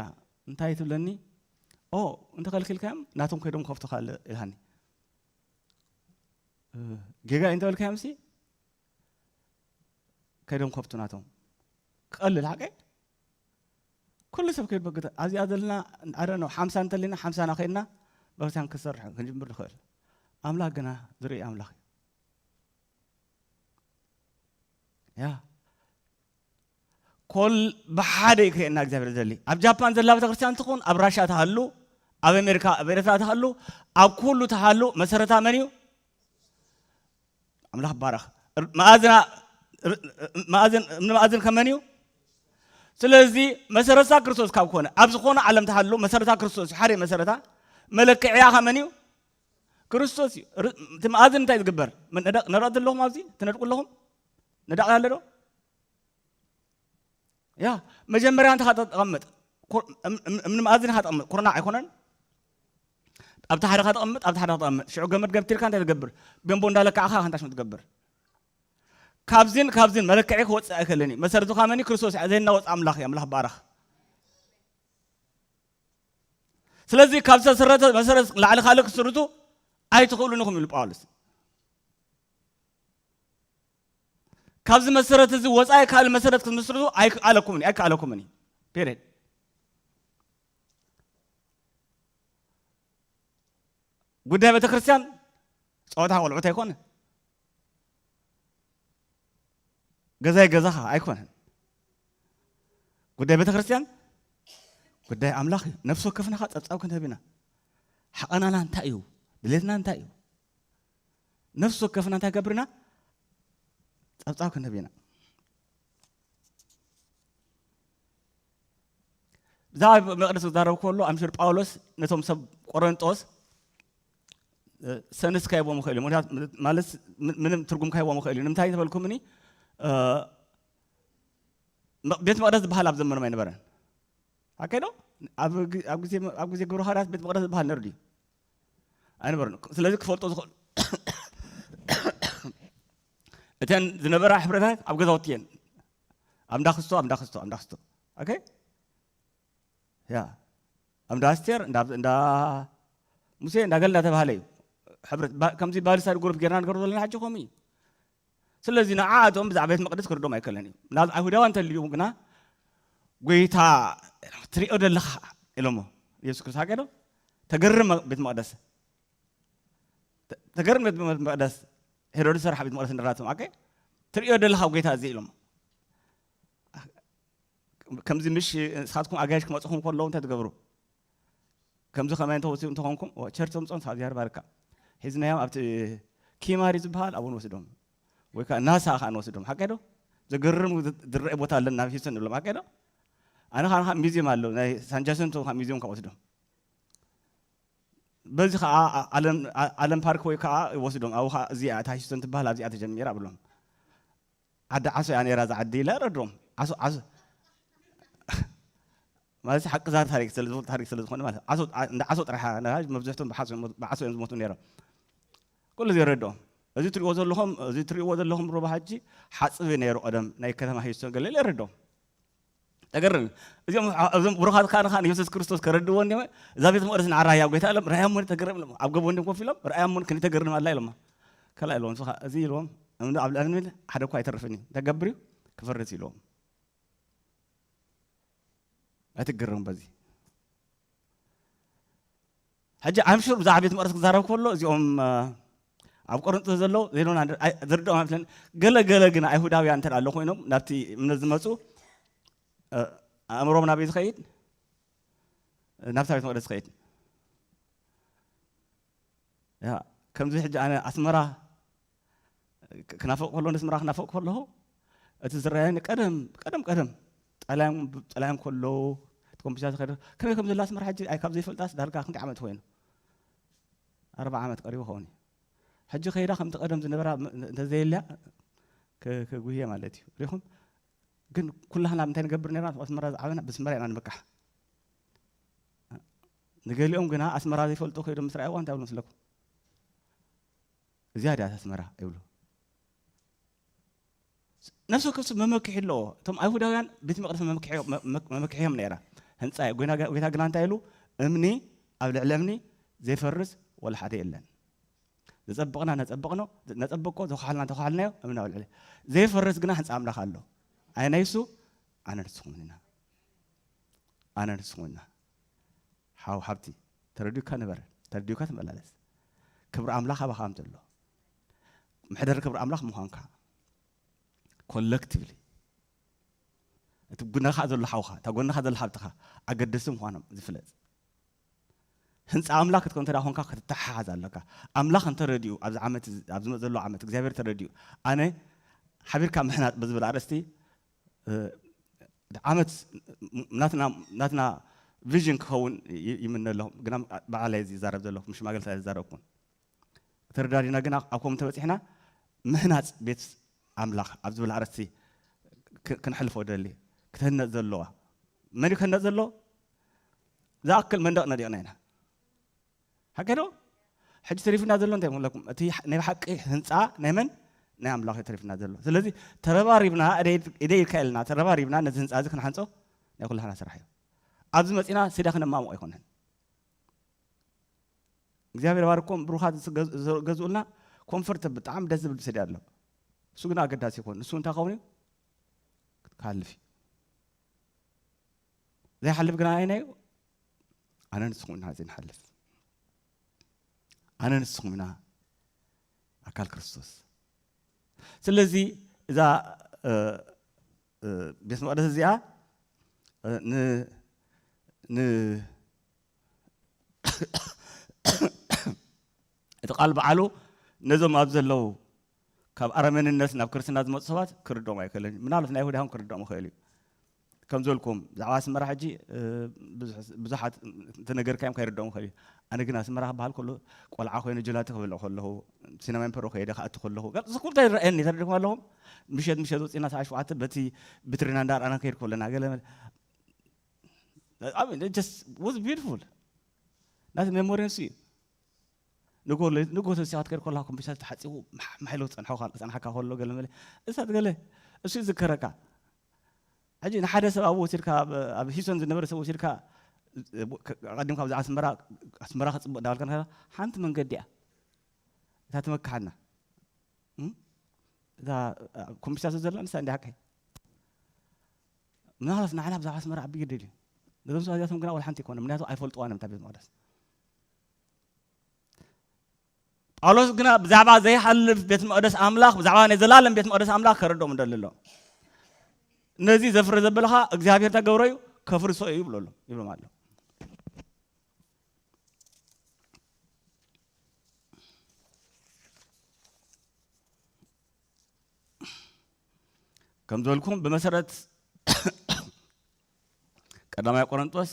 እንታይ ትብለኒ ኦ እንተኸልኪልካዮም ናቶም ከይዶም ከፍቶ ካልእ ኢልሃኒ ጌጋ እንተበልካዮም ሲ ከይዶም ከፍቱ ናቶም ክቐልል ሓቀ ኩሉ ሰብ ከይበግተ ኣብዚኣ ዘለና ኣረኖ ሓምሳ እንተሊና ሓምሳና ኮይንና በክርስቲያን ክሰርሕ ክንጅምር ንኽእል ኣምላኽ ግና ዝርኢ ኣምላኽ እዩ ያ ኮል ብሓደ እዩ ክርእየና እግዚኣብሔር ዘሊ ኣብ ጃፓን ዘላ ቤተክርስትያን ትኹን ኣብ ራሻ ትሃሉ ኣብ ኣሜሪካ ኣብ ኤርትራ ትሃሉ ኣብ ኩሉ ትሃሉ መሰረታ መን እዩ ኣምላኽ ባረኽ መኣዝና መኣዝን ንመኣዝን ከመን እዩ ስለዚ መሰረታ ክርስቶስ ካብ ኮነ ኣብ ዝኾነ ዓለም ተሃሉ መሰረታ ክርስቶስ እዩ ሓደ መሰረታ መለክዕያ ከመን እዩ ክርስቶስ እዩ እቲ መኣዝን እንታይ ዝግበር ንረእቲ ኣለኹም ኣብዚ ትነድቁ ኣለኹም ነዳቕ ኣለዶ ያ መጀመርያ እንተኻ ተቐምጥ እምኒ መኣዝን ኢኻ ተቐምጥ ኩርናዕ ኣይኮነን ኣብቲ ሓደኻ ተቐምጥ ኣብቲ ሓደኻ ተቐምጥ ሽዑ ገመድ ገምቲርካ እንታይ ትገብር ገንቦ እንዳለካዕኻ ከንታ ሽም ትገብር ካብዝን ካብዝን መለክዒ ክወፅእ ኣይከለኒ መሰረት ዝኾ መኒ ክርስቶስ እያ ዘይናወፅ ኣምላኽ እዩ ኣምላኽ ባረኽ ስለዚ ካብ ዝተሰረተ መሰረት ላዕሊ ካልእ ክስርቱ ኣይትኽእሉን ኢኹም ኢሉ ጳውሎስ ካብዚ መሰረት እዚ ወፃኢ ካልእ መሰረት ክትምስርቱ ኣይከኣለኩምን እዩ ኣይከኣለኩምን እዩ ፔሬድ ጉዳይ ቤተ ክርስቲያን ፀወታ ቆልዑት ኣይኮነ ገዛይ ገዛኻ ኣይኮነን ጉዳይ ቤተ ክርስቲያን ጉዳይ ኣምላኽ እዩ ነፍሲ ወከፍናኻ ፀብፃብ ክንህብ ኢና ሓቐናና እንታይ እዩ ድሌትና እንታይ እዩ ነፍሲ ወከፍና እንታይ ገብር ኢና ጸብጻብ ክንህብ ኢና ብዛዕባ መቅደስ ክዛረብ ከሎ ኣምሽር ጳውሎስ ነቶም ሰብ ቆረንጦስ ሰንስ ካይቦም ይኽእል እዩ ምክንያቱ ማለት ምንም ትርጉም ካይቦም ይኽእል እዩ ንምንታይ ተበልኩምኒ ቤት መቅደስ ዝበሃል ኣብ ዘመኖም ኣይነበረን ኣከዶ ኣብ ግዜ ግብረ ሃዋርያት ቤት መቅደስ ዝበሃል ነርዱ እዩ ኣይነበረን ስለዚ ክፈልጦ ዝኽእል እተን ዝነበራ ሕብረታት ኣብ ገዛውቲ እየን ኣብ እንዳ ክስቶ ኣብ እንዳ ክስቶ ኣብ እንዳ ክስቶ ኦኬ ያ ኣብ እንዳ ኣስቴር እንዳ ሙሴ እንዳ ገል እንዳተባሃለ እዩ ሕብረት ከምዚ ባልሳድ ጉሩፕ ጌርና ንገሩ ዘለና ሕጂ ከምኡ እዩ ስለዚ ንዓኣቶም ብዛዕባ ቤት መቕደስ ክርዶም ኣይከለን እዩ ምናልባት ኣይሁዳውያን እንተልዩ ግና ጎይታ ትሪኦ ዘለኻ ኢሎሞ ኢየሱስ ክርስቶስ ሃገዶ ተገርም ቤት መቕደስ ተገርም ቤት መቕደስ ሄሮድስ ሰራሕ ቤት መቕደስ ንራቶም ኣከ ትሪኦ ዘለኻ ጎይታ እዚ ኢሎሞ ከምዚ ምሽ ንስኻትኩም ኣጋይሽ ክመፅኹም ከለዉ እንታይ ትገብሩ ከምዚ ከማይ እንተወስኡ እንተኾንኩም ቸርች ተምጾም ፋዚያር ባርካ ሒዝናዮም ኣብቲ ኪማሪ ዝበሃል ኣብኡ ንወስዶም ወይ ከዓ ናሳ ከዓ ንወስዶም ሓቀይ ዶ ዘገርም ዝረአ ቦታ ኣለና ናብ ሂውስተን ንብሎም ሓቀይ ዶ ኣነ ከዓ ካብ ሚዚየም ኣሎ ናይ ሳንጃሰንቶ ካብ ሚዚየም ካብ ወስዶም በዚ ከዓ ኣለም ፓርክ ወይ ከዓ ወስዶም ኣብኡ ከዓ እዚኣ እታ ሂውስተን ትበሃል ኣብዚኣ ተጀሚራ ብሎም ዓዲ ዓሶ እያ ነይራ እዛ ዓዲ ኢለ ረድኦም ዓሶ ዓሶ ማለት ሓቂ ዛ ታሪክ ታሪክ ስለ ዝኾነ ማለት ዓሶ እንዳ ዓሶ ጥራሕ ነራጅ መብዝሕቶም ብዓሶ ብዓሶ እዮም ዝሞቱ ነይሮም ኩሉ እዚ ረድኦ እዚ ትሪእዎ ዘለኹም እዚ ትሪእዎ ዘለኹም ሩባ ሓጂ ሓፅቢ ነይሩ ቀደም ናይ ከተማ ሂስቶ ገለ ገለ ረድኦም ተገርም እዚኦም እዞም ብሩኻት ካህን ካህን ኢየሱስ ክርስቶስ ከረድዎ እንዲሞ እዛ ቤተ መቅደስ ንዓራ ህያው ጎይታ ኢሎም ርኣያሞ ተገርም ኢሎም ኣብ ገቦ እንዲም ኮፍ ኢሎም ርኣያሞ ክንዲ ተገርም ኣላ ኢሎማ ከላ ኢሎም ንስኻ እዚ ኢልዎም እምኒ ኣብ ልዕሊ እምኒ ሓደ እኳ ኣይተርፍን እዩ ተገብር እዩ ክፈርስ ኢልዎም ኣይትገረሙ በዚ ሕጂ I'm sure ብዛዕባ ቤት መቕደስ ክዛረብ ከሎ እዚኦም ኣብ ቆሮንጦስ ዘለዉ they don't under- ኣይ- ዝርድኦም ኣይመስለኒ ገለ ገለ ግን ኣይሁዳውያን እንተ ኣሎ ኮይኖም ናብቲ እምነት ዝመጹ እ፣ ኣእምሮም ናበይ ዝኸይድ ናብታ ቤት መቕደስ ዝኸይድ ያ ከምዚ ሕጂ ኣነ ኣስመራ ክናፍቕ ከሎ ነቲ ምራ ክናፍቕ ከለኹ እቲ ዝረኣየኒ ቀደም ቀደም ቀደም ጠላዮም ጠላዮም ከለዉ እቲ ኮምፒተር ዝኸደ ከመይ ከም ዘላ ስምራ ሕጂ ኣይ ካብ ዘይፈልጣስ ዳርጋ ክንደይ ዓመት ኮይኑ ኣርባ ዓመት ቀሪቡ ኸውን እዩ ሕጂ ከይዳ ከምቲ ቀደም ዝነበራ እንተዘየልያ ክጉህየ ማለት እዩ ሪኹም ግን ኩላህና እንታይ ንገብር ነርና ኣስመራ ዝዓበና ብስመራ ኢና ንምካሕ ንገሊኦም ግና ኣስመራ ዘይፈልጡ ከይዶም ምስ ረኣይዋ እንታይ ብሎ ምስለኩም እዚኣ ድኣ ተስመራ ይብሉ። ነፍሲ ወከፍ ሰብ መመክሒ ኣለዎ እቶም ኣይሁዳውያን ቤት መቅደስ መመክሕዮም ነራ ህንፃ እዩ ጎይታ ግና እንታይ ኢሉ እምኒ ኣብ ልዕሊ እምኒ ዘይፈርስ ወላ ሓደ የለን ዘፀብቕና ነፀብቕኖ ነፀብቆ ዘኳሓልና ተኳሓልናዮ እምኒ ኣብ ልዕሊ ዘይፈርስ ግና ህንፃ ኣምላኽ ኣሎ ኣነ ናይሱ ኣነ ንስኹም ኢና ኣነ ንስኹም ኢና ሓው ሃብቲ ተረዲኡካ ንበር ተረዲኡካ ተመላለስ ክብሪ ኣምላኽ ኣባኻ ከም ዘሎ ምሕደር ክብሪ ኣምላኽ ምዃንካ ኮለክቲቭሊ እቲ ጉነኻ ዘሎ ሓውኻ እታ ጎንኻ ዘሎ ሓብትኻ ኣገደስቲ ምዃኖም ዝፍለጥ ህንፃ ኣምላክ ክትከ እንተ ኮንካ ክትተሓሓዝ ኣለካ ኣምላክ እንተረድኡ ኣብዚ ዓመት ኣብ ዝመፅ ዘሎ ዓመት እግዚኣብሔር ተረድኡ ኣነ ሓቢርካ ምሕናፅ ብዝብል ኣርእስቲ ዓመት ናትና ቪዥን ክኸውን ይምነ ኣለኹ ግና ባዕላይ ዝዛረብ ዘለኹ ምስ ሽማግለታት ኣይዛረብኩን ተረዳዲና ግና ኣብ ከምኡ ተበፂሕና ምህናፅ ቤት ኣምላኽ ኣብ ዝብል ኣርእስቲ ክንሕልፎ ደሊ ክትህነፅ ዘለዋ መን እዩ ክህነፅ ዘሎ ዝኣክል መንደቕ ነዲቕና ኢና ሓቂ ዶ ሕጂ ተሪፍና ዘሎ እንታይ ምለኩም እቲ ናይ ሓቂ ህንፃ ናይ መን ናይ ኣምላኽ እዩ ተሪፍና ዘሎ ስለዚ ተረባሪብና ኢደ ኢድካ የለና ተረባሪብና ነዚ ህንፃ እዚ ክንሓንፆ ናይ ኩላህና ስራሕ እዩ ኣብዚ መፂና ስዳ ክነማሙቕ ኣይኮነን እግዚኣብሔር ባርኮም ብሩኻት ዝገዝኡልና ኮንፈርት ብጣዕሚ ደስ ዝብል ስዲ ኣሎ እሱ ግን ኣገዳሲ ይኮን ንሱ እንታይ ከውን እዩ ክሃልፍ እዩ ዘይሓልፍ ግና ኣየናይ እዩ ኣነ ንስኹም ኢና ዘይንሓልፍ ኣነ ንስኹም ኢና ኣካል ክርስቶስ ስለዚ እዛ ቤት መቅደስ እዚኣ እቲ ቃል በዓሉ ነዞም ኣብ ዘለዉ ካብ ኣረመንነት ናብ ክርስትና ዝመፁ ሰባት ክርድኦም ኣይክእልን እዩ ምናልባት ናይ ይሁዳውን ክርድኦም ይኽእል እዩ ከም ዝበልኩም ብዛዕባ ኣስመራ ሕጂ ብዙሓት እንተነገርካዮም ከይርድኦም ይኽእል እዩ ኣነ ግን ኣስመራ ክበሃል ከሎ ቆልዓ ኮይኑ ጀላቲ ክበልዕ ከለኹ ሲነማ ምፐሮ ከይደ ክኣቲ ከለኹ እዚ ኩሉ ይረኣየኒ ተረድኹም ኣለኹም ምሸት ምሸት ወፂና ሰዓ ሸውዓተ በቲ ብትሪና እንዳርኣና ከይድ ከለና ገለ ናቲ ሜሞሪንሲ ንጎ ተሲኻት ከር ኮላ ኮምፒተር ተሓፂቡ ማሕሎ ፀንሐካ ከሎ ገለ መለ እሳት ገለ እሱ ይዝከረካ ሕጂ ንሓደ ሰብ ኣብ ወሲድካ ኣብ ሂሶን ዝነበረ ሰብ ወሲድካ ቀዲምካ ብዛዕባ ኣስመራ ኣስመራ ክፅብቅ ዳበልካ ንኸ ሓንቲ መንገዲ እያ እታ ትመክሓና እዛ ኮምፒተር ዘላ ንሳ እንዲ ሓቀይ ምናልባት ንዓና ብዛዕባ ኣስመራ ዓቢ ግዲ ድዩ ነዞም ሰባት እዚኣቶም ግና ወልሓንቲ ኣይኮነ ምክንያቱ ኣይፈልጥዋን እዮም እታ ቤት መቅደስ ጳውሎስ ግና ብዛዕባ ዘይሓልፍ ቤት መቅደስ ኣምላኽ ብዛዕባ ናይ ዘላለም ቤት መቅደስ ኣምላኽ ከረድኦም ደሊ ኣሎ ነዚ ዘፍረ ዘበልኻ እግዚኣብሄር ተገብሮ እዩ ከፍርሶ እዩ ይብሎ ኣሎ ይብሎም ኣሎ ከም ዝበልኩም ብመሰረት ቀዳማይ ቆረንጦስ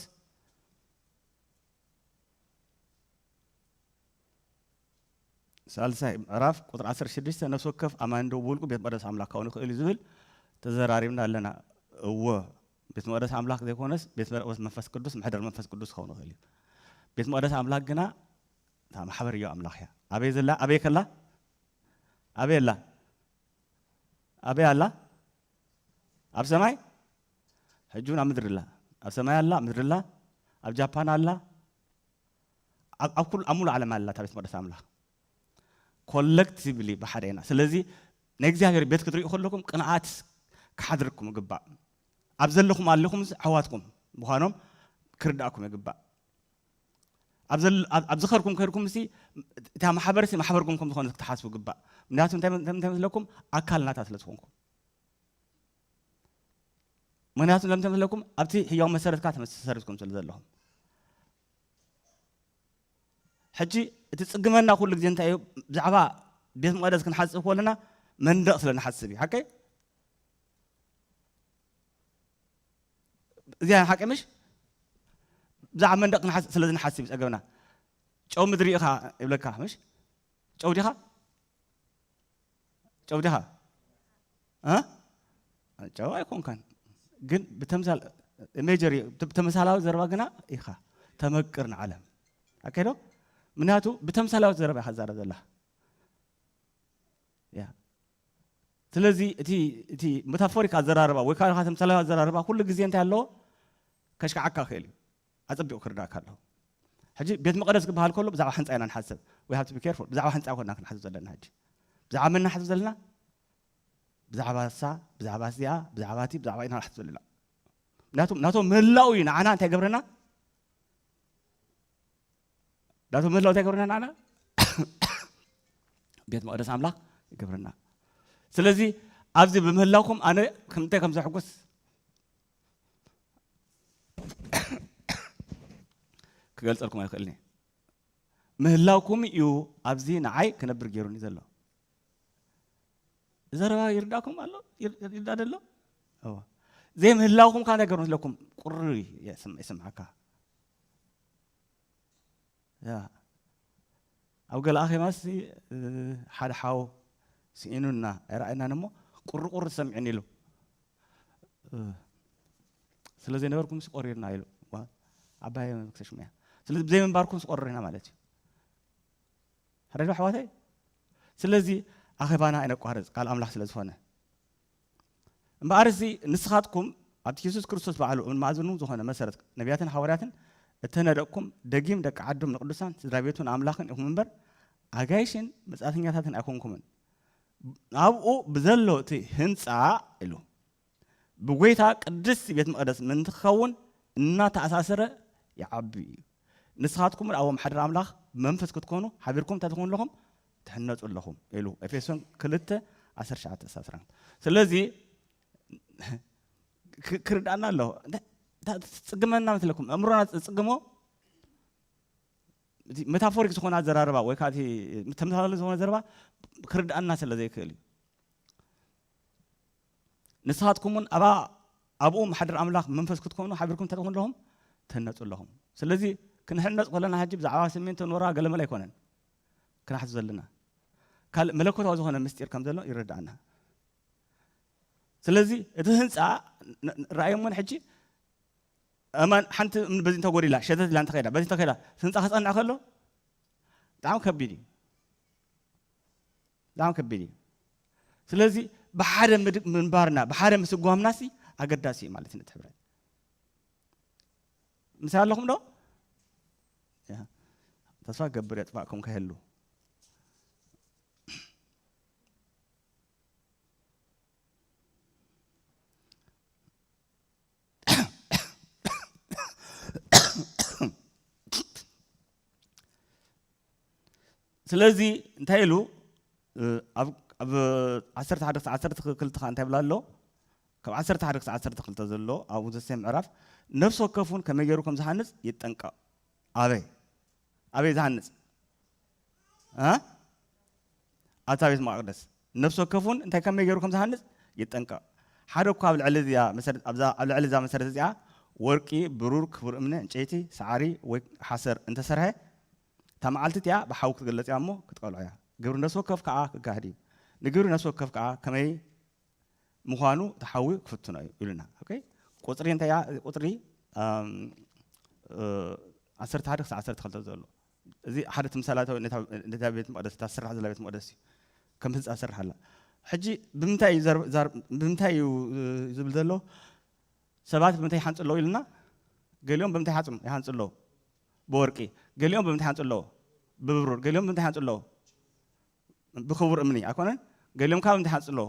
ሳልሳይ ምዕራፍ ቁጥሪ 16 ነፍሲ ወከፍ ኣማኒ ዶ ብውልቁ ቤት መቅደስ ኣምላክ ክኸውን ይኽእል እዩ ዝብል ተዘራሪብና ኣለና እወ ቤት መቅደስ ኣምላክ ዘይኮነስ ቤት መቅደስ መንፈስ ቅዱስ መሕደር መንፈስ ቅዱስ ክኸውን ይኽእል እዩ ቤት መቅደስ ኣምላክ ግና እታ ማሕበር እዩ ኣምላክ እያ ኣበይ ዘላ ኣበይ ከላ ኣበይ ኣላ ኣበይ ኣላ ኣብ ሰማይ ሕጂ እውን ኣብ ምድሪ ኣላ ኣብ ሰማይ ኣላ ኣብ ምድሪ ኣላ ኣብ ጃፓን ኣላ ኣብ ኩሉ ኣብ ሙሉእ ዓለም ኣላ እታ ቤት መቅደስ ኣምላኽ ኮለክቲቭሊ ብሓደ ኢና ስለዚ ናይ እግዚኣብሔር ቤት ክትሪኡ ከለኩም ቅንኣት ክሓድርኩም ይግባእ ኣብ ዘለኹም ኣለኹም ኣሕዋትኩም ምዃኖም ክርዳእኩም ይግባእ ኣብ ዝኸርኩም ከድኩም ሲ እታ ማሕበር ሲ ማሕበርኩም ከም ዝኾነ ክትሓስቡ ግባእ ምክንያቱ እንታይ መስለኩም ኣካል ናታ ስለ ዝኾንኩም ምክንያቱ ለምተ መስለኩም ኣብቲ ሕያው መሰረትካ ተመሰረትኩም ስለ ዘለኹም ሕጂ እቲ ፅግመና ኩሉ ግዜ እንታይ እዩ ብዛዕባ ቤት መቅደስ ክንሓስብ ከለና መንደቕ ስለ ንሓስብ እዩ ሓቀይ እዚኣ ሓቂ ምሽ ብዛዕባ መንደቅ ክንሓስ ስለ ዝንሓስብ ጸገብና ጨው ምድሪ ኢኻ ይብለካ ምሽ ጨው ዲኻ ጨው ዲኻ ጨው ኣይኮንካን ግን ብተምሳል ሜጀር ተመሳላዊ ዘረባ ግና ኢኻ ተመቅር ንዓለም ኣከዶ ምክንያቱ ብተምሳላዊ ዘረባ ኢኻ ዛረብ ዘላ ስለዚ እቲ እቲ መታፎሪክ ኣዘራርባ ወይ ከዓ ተምሳላዊ ኣዘራርባ ኩሉ ግዜ እንታይ ኣለዎ ከሽክዓካ ክእል እዩ ኣጸቢቑ ክርዳእካ ኣለዎ ሕጂ ቤት መቐደስ ክበሃል ከሎ ብዛዕባ ሕንፃ ኢና ንሓሰብ ወይ ሃብቲ ብኬርፎ ብዛዕባ ሕንፃ ኮና ክንሓስብ ዘለና ሕጂ ብዛዕባ መን ናሓስብ ዘለና ብዛዕባ እሳ ብዛዕባ እዚኣ ብዛዕባ እቲ ብዛዕባ ኢና ናሓስብ ዘለና ምክንያቱም ናቶም ምህላው እዩ ንዓና እንታይ ገብረና ዳቶ ምህላው እንታይ ገብረና ንዓና ቤት መቕደስ ኣምላኽ ይገብረና ስለዚ ኣብዚ ብምህላውኩም ኣነ ከምንታይ ከም ዘሕጉስ ክገልጸልኩም ኣይክእልኒ ምህላውኩም እዩ ኣብዚ ንዓይ ክነብር ገይሩኒ ዘሎ ዘረባ ይርዳእኩም ኣሎ ይርዳእ ደሎ ዘይምህላውኩም ከዓ ነገሩ ስለኩም ቁሪ ይስምዓካ ኣብ ገለ ኣኼባ እስቲ ሓደ ሓው ስኢኑና ኣይረኣየናን እሞ ቁርቁር ዝሰምዕን ኢሉ ስለ ዘይነበርኩም ሲ ቆሪርና ኢሉ ዓባይ ክሰሽሙ እያ ስለዚ ብዘይምንባርኩም ስቆርር ኢና ማለት እዩ ሓደ ኣሕዋተይ ስለዚ ኣኼባና ኣይነቋርፅ ቃል ኣምላኽ ስለ ዝኾነ እምበኣርሲ ንስኻትኩም ኣብቲ የሱስ ክርስቶስ ባዕሉ እም ማእዝኑ ዝኾነ መሰረት ነቢያትን ሓዋርያትን እተነደቕኩም ደጊም ደቂ ዓዶም ንቅዱሳን ስድራ ቤቱን ኣምላኽን ኢኹም እምበር ኣጋይሽን መጻእተኛታትን ኣይኮንኩምን ኣብኡ ብዘሎ እቲ ህንፃ ኢሉ ብጎይታ ቅድስቲ ቤት መቕደስ ምእንቲ ክኸውን እናተኣሳሰረ ይዓቢ እዩ ንስኻትኩም ኣብኦም ሓድር ኣምላኽ ብመንፈስ ክትኮኑ ሓቢርኩም እንታይ ትኾኑ ኣለኹም ትሕነጹ ኣለኹም ኢሉ ኤፌሶን ክልተ ዓሰርተ ትሽዓተ ክሳብ ዓሰርተ ኣርባዕተ ስለዚ ክ- ክርድኣና ኣለዎ እንታይ እንታይ ትጽግመና መስለኩም ኣእምሮና ዝጽግሞ እቲ ሜታፎሪክ ዝኾነ ኣዘራርባ ወይ ከዓ እቲ ተመሳሳሊ ዝኾነ ዘረባ ክርድኣና ስለ ዘይክእል እዩ ንስኻትኩም እውን ኣብኣ ኣብኡ ማሕደር ኣምላኽ መንፈስ ክትኮኑ ሓቢርኩም እንታይ ትኾኑ ኣለኹም ትህነፁ ኣለኹም ስለዚ ክንሕነፅ ከለና ሕጂ ብዛዕባ ስሚንቶ ኖራ ገለመለ ኣይኮነን ክንሓስብ ዘለና ካልእ መለኮታዊ ዝኾነ ምስጢር ከም ዘሎ ይረዳእና። ስለዚ እቲ ህንፃ ራእዮም እውን ሕጂ እማን ሓንቲ በዚ እንተጎዲላ ሸተት ኢላ እንተኸዳ በዚ እንተኸዳ ህንፃ ክፀንዕ ከሎ ብጣዕሚ ከቢድ እዩ ብጣዕሚ ከቢድ እዩ ስለዚ ብሓደ ምንባርና ብሓደ ምስጓምናሲ ኣገዳሲ እዩ ማለት እዩ ነቲ ሕብረት ምሳይ ኣለኹም ዶ ተስፋ ክገብር የጥፋእኩም ከይህሉ ስለዚ እንታይ ኢሉ ኣብ ዓሰርተ ሓደ ክሳዕ ዓሰርተ ክልተ ከኣ እንታይ ይብል ኣሎ? ካብ ዓሰርተ ሓደ ክሳዕ ዓሰርተ ክልተ ዘሎ ኣብኡ ዘሰ ምዕራፍ ነፍሲ ወከፍ እውን ከመይ ገይሩ ከም ዝሃንጽ ይጠንቀቕ። ኣበይ ኣበይ ዝሃንጽ ኣብታ ቤት መቃቅደስ ነፍሲ ወከፍ እውን እንታይ ከመይ ገይሩ ከም ዝሃንጽ ይጠንቀቕ። ሓደ እኳ ኣብ ልዕሊ እዚኣ መሰረት ኣብዛ ኣብ ልዕሊ እዛ መሰረት እዚኣ ወርቂ፣ ብሩር፣ ክቡር እምነ፣ ዕንጨይቲ፣ ሰዓሪ ወይ ሓሰር እንተሰርሐ እታ መዓልቲ እቲኣ ብሓዊ ክትግለጽ እያ እሞ ክትቀልዖ እያ። ግብሪ ነፍሲ ወከፍ ከኣ ክጋህድ እዩ። ንግብሪ ነፍሲ ወከፍ ከኣ ከመይ ምዃኑ እቲ ሓዊ ክፍትኖ እዩ ኢሉና። ኦኬ ቁጽሪ እንታይ እያ ቁጽሪ ዓሰርተ ሓደ ክሳዕ ዓሰርተ ክልተ ዘሎ እዚ ሓደ ትምሳላታዊ ነታ ቤት መቅደስ እታ ስራሕ ዘላ ቤት መቅደስ እዩ ከም ህንፃ ስራሕ ኣላ ሕጂ ብምንታይ እዩ ዘር- ዛር- ብምንታይ እዩ እ፣ ዝብል ዘሎ ሰባት ብምንታይ ይሓንፁ ኣለዉ ኢልና ገሊኦም ብምንታይ ይሓፁም ይሃንፁ ኣለዉ ብወርቂ፣ ገሊኦም ብምንታይ ይሃንጹ ኣለዉ? ብብሩር፣ ገሊኦም ብምንታይ ይሃንጹ ኣለዉ? ብኽቡር እምኒ፣ ኣይኮነን? ገሊኦም ከኣ ብምንታይ ይሃንጹ ኣለዉ?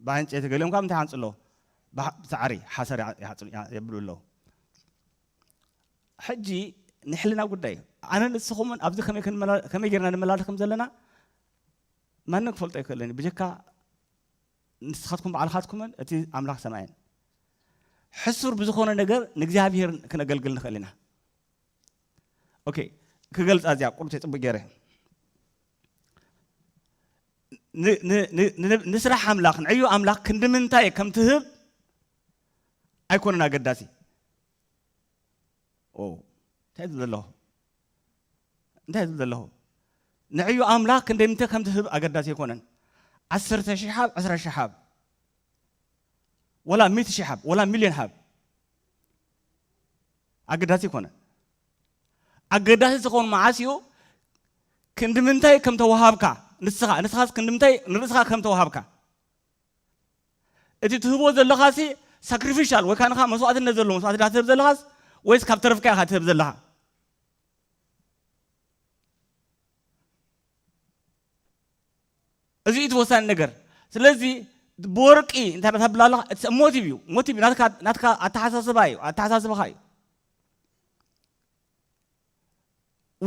ብዕንጨይቲ፣ ገሊኦም ከኣ ብምንታይ ይሃንጹ ኣለዉ? ብሳዕሪ፣ ሓሰር የብሉ ኣለዉ። ሕጂ ናይ ሕልና ጉዳይ እዩ። ኣነን ንስኹምን ኣብዚ ከመይ ከመይ ጌርና ንመላለስ ከም ዘለና ማንም ክፈልጦ ኣይክእልን እዩ ብጀካ ንስኻትኩም ባዕልኻትኩምን እቲ ኣምላኽ ሰማይን ሕሱር ብዝኾነ ነገር ንእግዚኣብሄር ክነገልግል ንኽእል ኢና ኦኬ ክገልጻ እዚኣ ቁርተይ ጽቡቅ ገይረ ንስራሕ ኣምላኽ ንዕዩ ኣምላኽ ክንዲ ምንታይ ከም ትህብ ኣይኮነን ኣገዳሲ ኦ እንታይ ዝብል ዘለኹ እንታይ ዝብል ዘለኹ ንዕዩ ኣምላኽ ክንደይ ምንተ ከም ዝህብ ኣገዳሲ ኣይኮነን ዓሰርተ ሽሕ ሃብ ዕስራ ሽሕ ሃብ ወላ ሚእቲ ሽሕ ሃብ ወላ ሚልዮን ሃብ ኣገዳሲ ኣይኮነን ኣገዳሲ ዝኸውን መዓስ እዩ ክንዲ ምንታይ ከም ተዋሃብካ ንስኻ ንስኻስ ክንዲ ምንታይ ንርእስኻ ከም ተዋሃብካ እቲ ትህቦ ዘለኻሲ ሳክሪፊሻል ወይ ካንኻ መስዋእትነት ዘለዎ መስዋእቲ ድኻ ትህብ ዘለኻስ ወይስ ካብ ተረፍካ ኢኻ ትህብ ዘለኻ? እዚ እቲ ወሳኒ ነገር። ስለዚ ብወርቂ እንታይ ተብላ ኣለኻ? እቲ ሞቲቭ እዩ ሞቲቭ ናትካ ናትካ ኣተሓሳስባ እዩ ኣተሓሳስባኻ እዩ።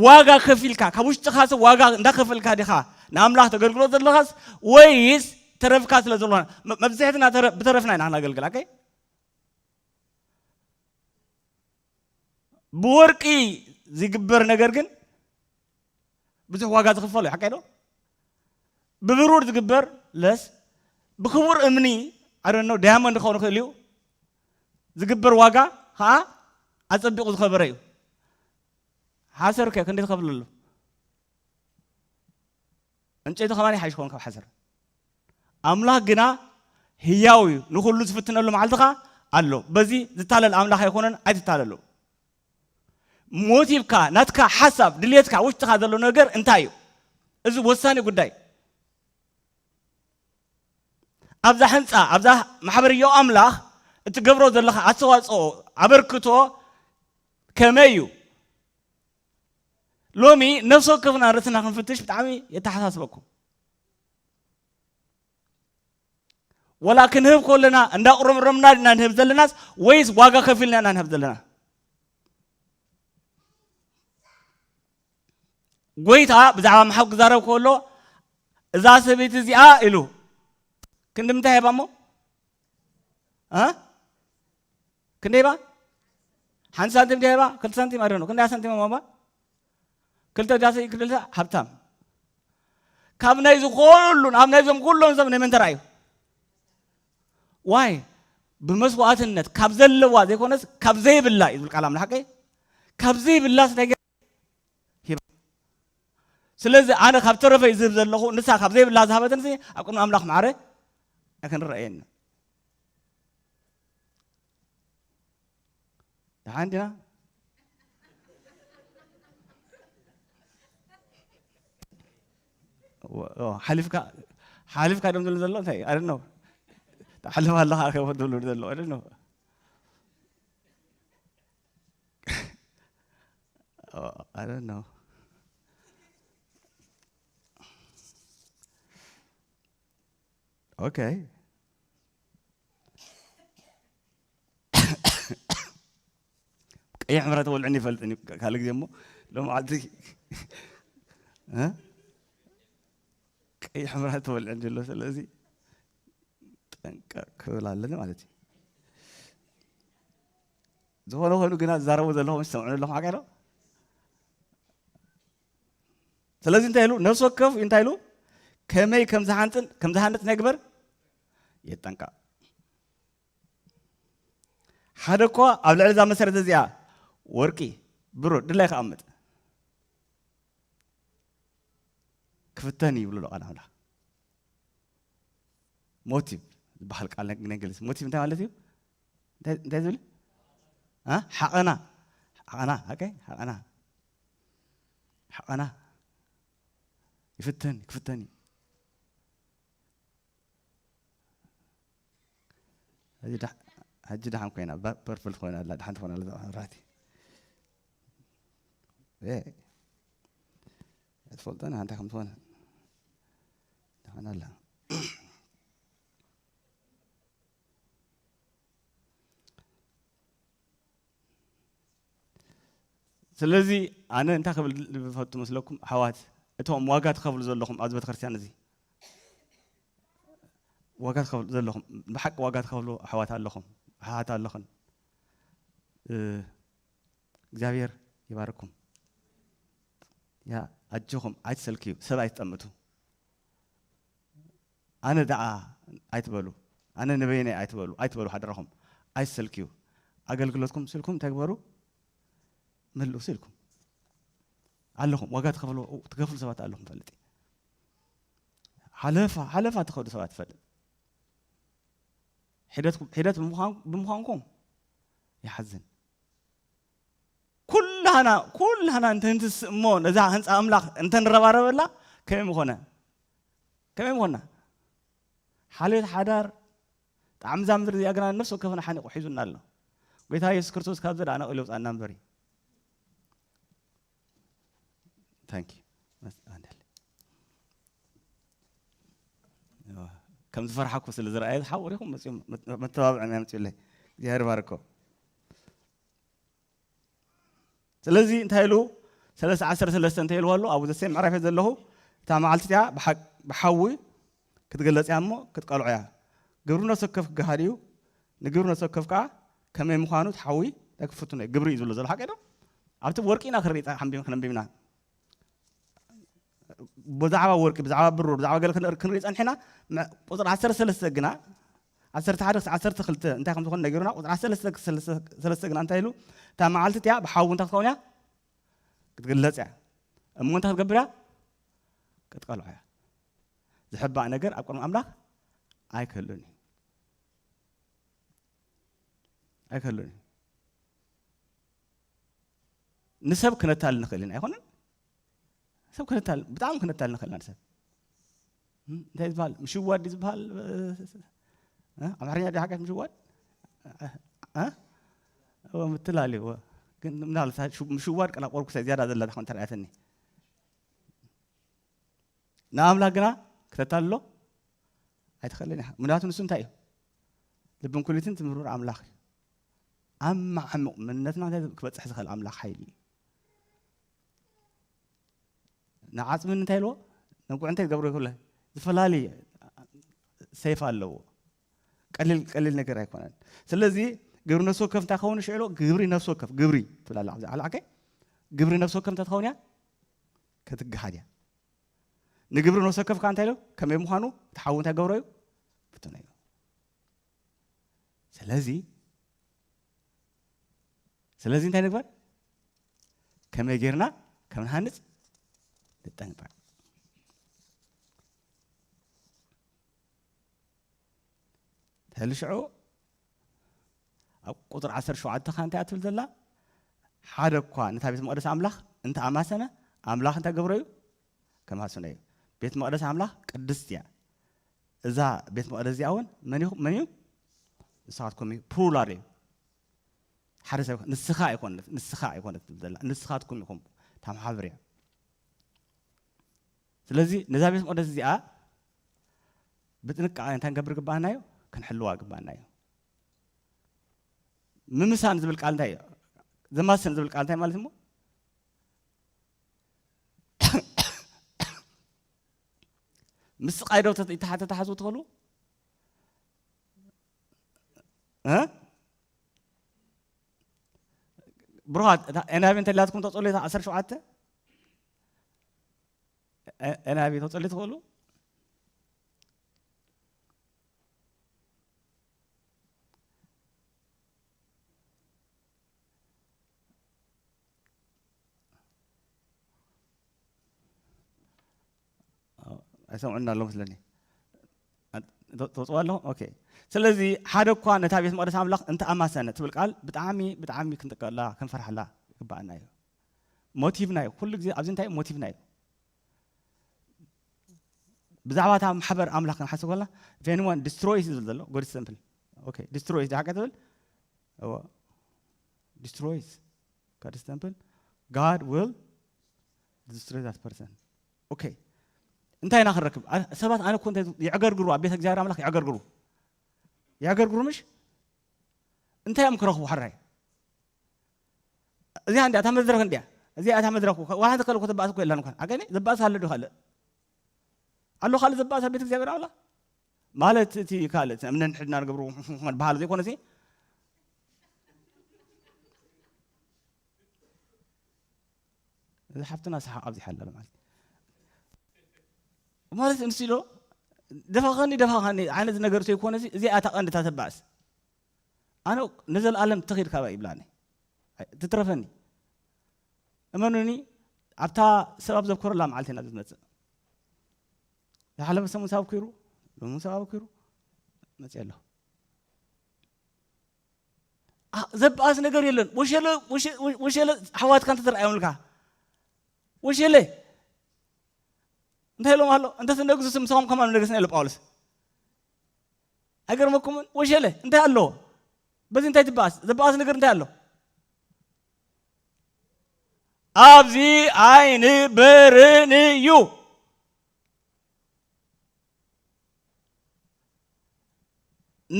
ዋጋ ከፊልካ ካብ ውሽጥኻ ሰብ ዋጋ እንዳኸፈልካ ዲኻ ንኣምላኽ ተገልግሎ ዘለኻስ ወይስ ተረፍካ ስለ ዘሎና መብዝሕትና ብተረፍና ኢና ክነገልግል ኣከይ ብወርቂ ዝግበር ነገር ግን ብዙሕ ዋጋ ዝኽፈሎ እዩ ሓቀይ ዶ ብብሩር ዝግበር ለስ ብክቡር እምኒ ኣረኖ ዳያመንድ ክኸውን ይኽእል እዩ ዝግበር ዋጋ ከዓ ኣፀቢቑ ዝኸበረ እዩ ሓሰር ከ ክንደይ ትኸፍል ኣሎ እንጨይቲ ከማን ይሓይሽ ኸውን ካብ ሓሰር ኣምላኽ ግና ህያው እዩ ንኩሉ ዝፍትነሉ መዓልቲ ከዓ ኣሎ በዚ ዝታለል ኣምላኽ ኣይኮነን ኣይትታለሉ ሞቲቭካ ናትካ ሓሳብ ድልየትካ ውሽጥካ ዘሎ ነገር እንታይ እዩ እዚ ወሳኒ ጉዳይ ኣብዛ ሕንፃ ኣብዛ ማሕበር ዮ ኣምላኽ እትገብሮ ዘለካ ኣስተዋፅኦ ኣበርክቶ ከመይ እዩ ሎሚ ነፍሲ ወከፍና ርእስና ክንፍትሽ ብጣዕሚ የተሓሳስበኩም ወላ ክንህብ ኮለና እንዳቁረምረምና ድና ንህብ ዘለናስ ወይስ ዋጋ ከፊልና ኢና ንህብ ዘለና? ጎይታ ብዛዕባ ምሓው ክዛረብ ከሎ እዛ ሰበይቲ እዚኣ ኢሉ ክንዲ ምንታይ ሂባ እሞ ክንደይ ባ ሓንቲ ሳንቲም ድያ ባ ክልተ ሳንቲም ኣደኑ ክንደያ ሳንቲም ሞባ ክልተ ዳሰ ክልተ ሃብታም ካብ ናይ ዝኾሉን ኣብ ናይዞም ኩሎም ሰብ ናይ መን ተራእዩ ዋይ ብመስዋእትነት ካብ ዘለዋ ዘይኮነስ ካብ ዘይብላ እዩ ዝብል ቃል ኣምላኽ ቀይ ካብ ዘይብላ ስታይ ስለዚ ኣነ ካብ ተረፈይ ዝህብ ዘለኹ ንሳ ካብ ዘይብላ ዝሃበትን ኣብ ቅድሚ ኣምላኽ ማዕረ ኣይክንረኣየኒ ደሓን ዲና ሓሊፍካ ሓሊፍካ ደም ዝብሉ ዘሎ እንታይ ኣደ ነው ተሓልፍ ኣለኻ ከ ዝብሉ ዘሎ ኣደ ነው oh, I don't know. Okay. ቀይሕ ምሕረ ተወልዕኒ ይፈልጥን እዩ ካልእ ግዜ እሞ ሎመዓልቲ ቀይሕ ምሕረ ተወልዕኒ ኣሎ ስለዚ ጠንቀቅ ክብል ኣለኒ ማለት እዩ ዝኾነ ኮይኑ ግና ዝዛረቡ ዘለኹም ዝሰምዑ ኣለኹም ሓቂ ኣሎ ስለዚ እንታይ ኢሉ ነፍሲ ወከፍ እንታይ ኢሉ ከመይ ከም ዝሓንፅን ከም ዝሃንፅ ናይ ግበር የጠንቀቕ ሓደ እኳ ኣብ ልዕሊ እዛ መሰረት እዚኣ ወርቂ ብሩር ድላይ ክኣምጥ ክፍተን ይብሉ ኣሎ ቃል ኣምላኽ ሞቲቭ ዝበሃል ቃል ናይ እንግሊዝ ሞቲቭ እንታይ ማለት እዩ እንታይ ዝብል ሓቐና ሓቐና ኦኬ ሓቐና ሓቐና ይፍተን ክፍተን እዩ ሕጂ ደሓ- ሕጂ ደሓን ኮይና ባ- ፐርፕል ኮይና ኣላ ደሓን ትኾና ኣላ እዛ መብራህቲ ኤ፣ ኣይትፈልጦን ኢኻ እንታይ ከም ዝኾነ ደሓን ኣላ ስለዚ ኣነ እንታይ ክብል ዝፈቱ መስለኩም ኣሕዋት እቶም ዋጋ ትኸፍሉ ዘለኹም ኣብዚ ቤተክርስትያን እዚ ዋጋ ትኸፍሉ ዘለኹም ብሓቂ ዋጋ ትኸፍሉ ኣሕዋት ኣለኹም ኣሓት ኣለኽን እግዚኣብሔር ይባርኩም ያ ኣጆኹም ኣይትሰልክዩ ሰብ ኣይትጠምቱ ኣነ ደኣ ኣይትበሉ ኣነ ንበይነይ ኣይትበሉ ኣይትበሉ ሓደራኹም ኣይትሰልክዩ ኣገልግሎትኩም ስልኩም እንታይ ግበሩ መልእሱ ኢልኩም ኣለኹም ዋጋ ትኸፍሉ ትከፍሉ ሰባት ኣለኹም ፈልጥ እዩ ሓለፋ ሓለፋ ትኸዱ ሰባት ትፈልጥ ሒደት ሒደት ብምዃንኩም ይሓዝን ኩላህና ኩላህና እንተ ንትስእ እሞ ነዛ ህንጻ ኣምላኽ እንተ ንረባረበላ ከመይ ምኾነ ከመይ ምኾና ሓልዮት ሓዳር ጣዕሚ እዛ ምድሪ እዚኣ ግና ነፍሲ ወከፍና ሓኒቑ ሒዙና ኣሎ ጌታ የሱስ ክርስቶስ ካብዚ ደኣ ነቒሉ ውፃና እምበር እዩ ታንኪ ከም ዝፈርሓኩ ስለ ዝረኣየ ዝሓቑሪኹም መተባብዕና የምፅኡለይ እግዚኣብሔር ባርኮ ስለዚ እንታይ ኢሉ ሰለስተ ዓሰርተ ሰለስተ እንተ ኢልዎ ኣሎ ኣብኡ ዘሰይ ምዕራፍ እየ ዘለኹ እታ መዓልቲ እቲኣ ብሓዊ ክትግለጽ እያ እሞ ክትቀልዖ እያ ግብሪ ነፍሲ ወከፍ ክገሃድ እዩ ንግብሪ ነፍሲ ወከፍ ከዓ ከመይ ምዃኑ እቲ ሓዊ ክፍትኖ እዩ ግብሪ እዩ ዝብሎ ዘሎ ሓቂ ዶ ኣብቲ ወርቂ ኢና ክርኢ ሓንቢም ክነንቢብና ብዛዕባ ወርቂ ብዛዕባ ብሩር ብዛዕባ ገለ ክንርኢ ፀኒሕና ቁፅሪ ዓሰርተ ሰለስተ ግና ዓሰርተ ሓደ ክሳብ ዓሰርተ ክልተ እንታይ ከም ዝኾነ ነገሩና ቁፅሪ ዓሰርተ ሰለስተ ግና እንታይ ኢሉ እታ መዓልቲ እቲኣ ብሓዊ እንታይ ክትኸውን እያ ክትግለፅ እያ እሞ እንታይ ክትገብር እያ ክትቀልዖ እያ ዝሕባእ ነገር ኣብ ቅድሚ ኣምላኽ ኣይክህሉን እዩ ኣይክህሉን እዩ ንሰብ ክነታል ንኽእል ኢና ኣይኮነን ሰብ ክነታል ብጣዕሚ ክነታል ንኽእል ኢና ንሰብ እንታይ ዝበሃል ምሽዋድ እዩ ዝበሃል ኣምሓርኛ ዶ ሓጋሽ ምሽዋድ ምትላል እዩ ግን ምናልባት ምሽዋድ ቀላ ቆርኩሰ ዝያዳ ዘላ ትኾን ተርኣያትኒ ንኣምላክ ግና ክተታልሎ ኣይትኽእልን ኢኻ ምክንያቱ ንሱ እንታይ እዩ ልብን ኩሊትን ትምህርር ኣምላኽ እዩ ኣብ ማዕሙቕ መንነትና ክበፅሕ ዝኽእል ኣምላኽ ሓይሊ እዩ ንዓፅሚ እንታይ ኣለዎ ነጉዕ እንታይ ዝገብሮ ይክእለ ዝፈላለየ ሰይፍ ኣለዎ ቀሊል ቀሊል ነገር ኣይኮነን ስለዚ ግብሪ ነፍሲ ወከፍ እንታይ ከውን ሽዕሎ ግብሪ ነፍሲ ወከፍ ግብሪ ትብላላ ኣብዚ ዓላዕከይ ግብሪ ነፍሲ ወከፍ እንታይ ትኸውን እያ ከትግሃድ እያ ንግብሪ ነፍሲ ወከፍ ከዓ እንታይ ኢሎ ከመይ ምዃኑ እቲ ሓዊ እንታይ ገብሮ እዩ ፍትነ እዩ ስለዚ ስለዚ እንታይ ንግበር ከመይ ጌርና ከም ንሃንፅ ንጠንቀቕ ሕሊ ሽዑ ኣብ ቁጥር 17 ካ እንታይ ኣትብል ዘላ ሓደ እኳ ነታ ቤት መቅደስ ኣምላኽ እንተ ኣማሰነ ኣምላኽ እንታይ ገብሮ እዩ ከማስነ እዩ ቤት መቅደስ ኣምላኽ ቅድስት እያ እዛ ቤት መቕደስ እዚኣ እውን መን ኢኹም መን እዩ ንስኻትኩም እዩ ፕሩላር እዩ ሓደ ሰብ ንስኻ ኣይኮነት ንስኻ ኣይኮነት ትብል ዘላ ንስኻትኩም ኢኹም ታመሓብር እያ ስለዚ ነዛ ቤት መቕደስ እዚኣ ብጥንቃቐ እንታይ ንገብር ግባኣና እዩ ክንሕልዋ ግባኣና እዩ ምምሳን ዝብል ቃል እንታይ እዩ ዘማስን ዝብል ቃል እንታይ ማለት እሞ ምስ ስቃይ ዶ ተተሓዙ ትኸሉ ብሩኻት ኤንሃቢ እንተላትኩም ተፀሉ ዓሰርተ ሸውዓተ ኤንሃቢ ተፀሉ ትኽእሉ ኣይሰምዑና ኣሎ መስለኒ ተውፅዋ ኣለኹ ኦኬ ስለዚ ሓደ እኳ ነታ ቤት መቅደስ ኣምላኽ እንተ ኣማሰነ ትብል ቃል ብጣዕሚ ብጣዕሚ ክንጥቀላ ክንፈርሓላ ይግባኣና እዩ ሞቲቭና እዩ ኩሉ ግዜ ኣብዚ እንታይ ሞቲቭና እዩ ብዛዕባ እታ ማሕበር ኣምላኽ ክንሓስብ ከለና ፌንዋን ዲስትሮይስ ዝብል ዘሎ ጎድ ሰምፕል ኦኬ ዲስትሮይስ ዳሓቀ ትብል እወ destroys God's temple, God will destroy that person. ኦኬ እንታይ ኢና ክንረክብ? ኣ- ሰባት ኣነ እኮ እንታይ ዝብ- የዕገርግሩ ኣብ ቤተ እግዚኣብሔር ኣምላኽ የዕገርግሩ የዕገርግሩ ምሽ እንታይ እዮም ክረኽቡ ሕራይ እዚኣ እንዲያ እታ መድረኽ እንዲያ እዚኣ እታ መድረኽ እኮ ዋላ ተከለ እኮ ተባእስ እኮ የላን እንኳን ኣገኒ ዘባእስ ኣሎ ዶ ካልእ ኣሎ ካልእ ዘባእስ ኣብ ቤተ እግዚኣብሔር ኣምላኽ ማለት እቲ ካልእ እቲ ነንሕድና ንገብሮ በሃሊ ዘይኮነሲ እዚ ሓፍትና ሰሓቕ ኣብዚሓ ኣላ ማለት ማለት ንስ ኢሎ ደፋኸኒ ደፋኸኒ ዓይነት ነገር ዘይኮነ እዚኣ እታ ቀንዲ እታ ተባእስ ኣነ ንዘለኣለም ትኺድ ካባ ይብላኒ ትትረፈኒ እመኑኒ ኣብታ ሰብ ኣብ ዘኮረላ መዓልቲ ኢና ዝመፅእ ዝሓለፈ ሰሙን ሳብ ኩሩ ሎሚ ሳብ ኩሩ መፅእ ኣሎ ዘበኣስ ነገር የለን ወሸለ ወሸለ ሓዋትካ እንተተረኣዮምልካ ወሸለ እንታይ ኢሎም ኣሎ እንተ ትነግሱ ስም ንስኹም ከማን ነገስና ኢሎ ጳውሎስ ኣይገርመኩምን ወሸለ እንታይ ኣለዎ በዚ እንታይ ትበኣስ ዘበኣስ ነገር እንታይ ኣሎ ኣብዚ ኣይንበርን እዩ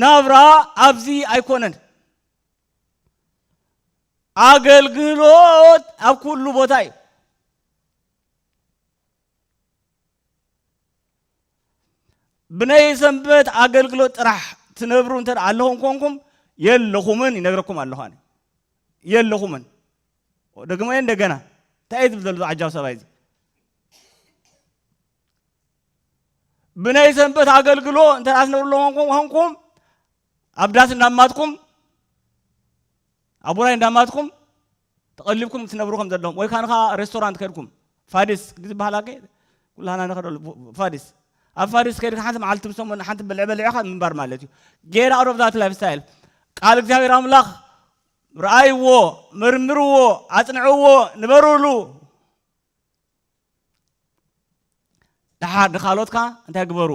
ናብራ ኣብዚ ኣይኮነን ኣገልግሎት ኣብ ኩሉ ቦታ እዩ ብናይ ሰንበት ኣገልግሎት ጥራሕ ትነብሩ እንተ ኣለኹም ኮንኩም የለኹምን ይነግረኩም ኣለኹ የለኹምን ደግሞ እንደገና እንታይ እዩ ዝብል ዘሎ ዓጃው ሰብኣይ እዚ ብናይ ሰንበት ኣገልግሎ እንተ ኣስነብርሎ ኮንኩም ኣብ ዳስ እንዳማትኩም ኣብ ውራይ እንዳማትኩም ተቐሊብኩም ትነብሩ ከም ዘለኹም ወይ ካንኻ ሬስቶራንት ከድኩም ፋዲስ ዝበሃል ኣገ ኩላህና ንኸደሉ ፋዲስ ኣብ ፋዲስ ከድካ ሓንቲ መዓልቲ ምስ ሰሙን ሓንቲ ብልዕ በሊዕኻ ምንባር ማለት እዩ ጌር ኣውት ኦፍ ዛት ላይፍ ስታይል ቃል እግዚኣብሔር ኣምላኽ ረኣይዎ መርምርዎ ኣጽንዕዎ ንበርሉ ድሓር ንካልኦትካ እንታይ ግበሩ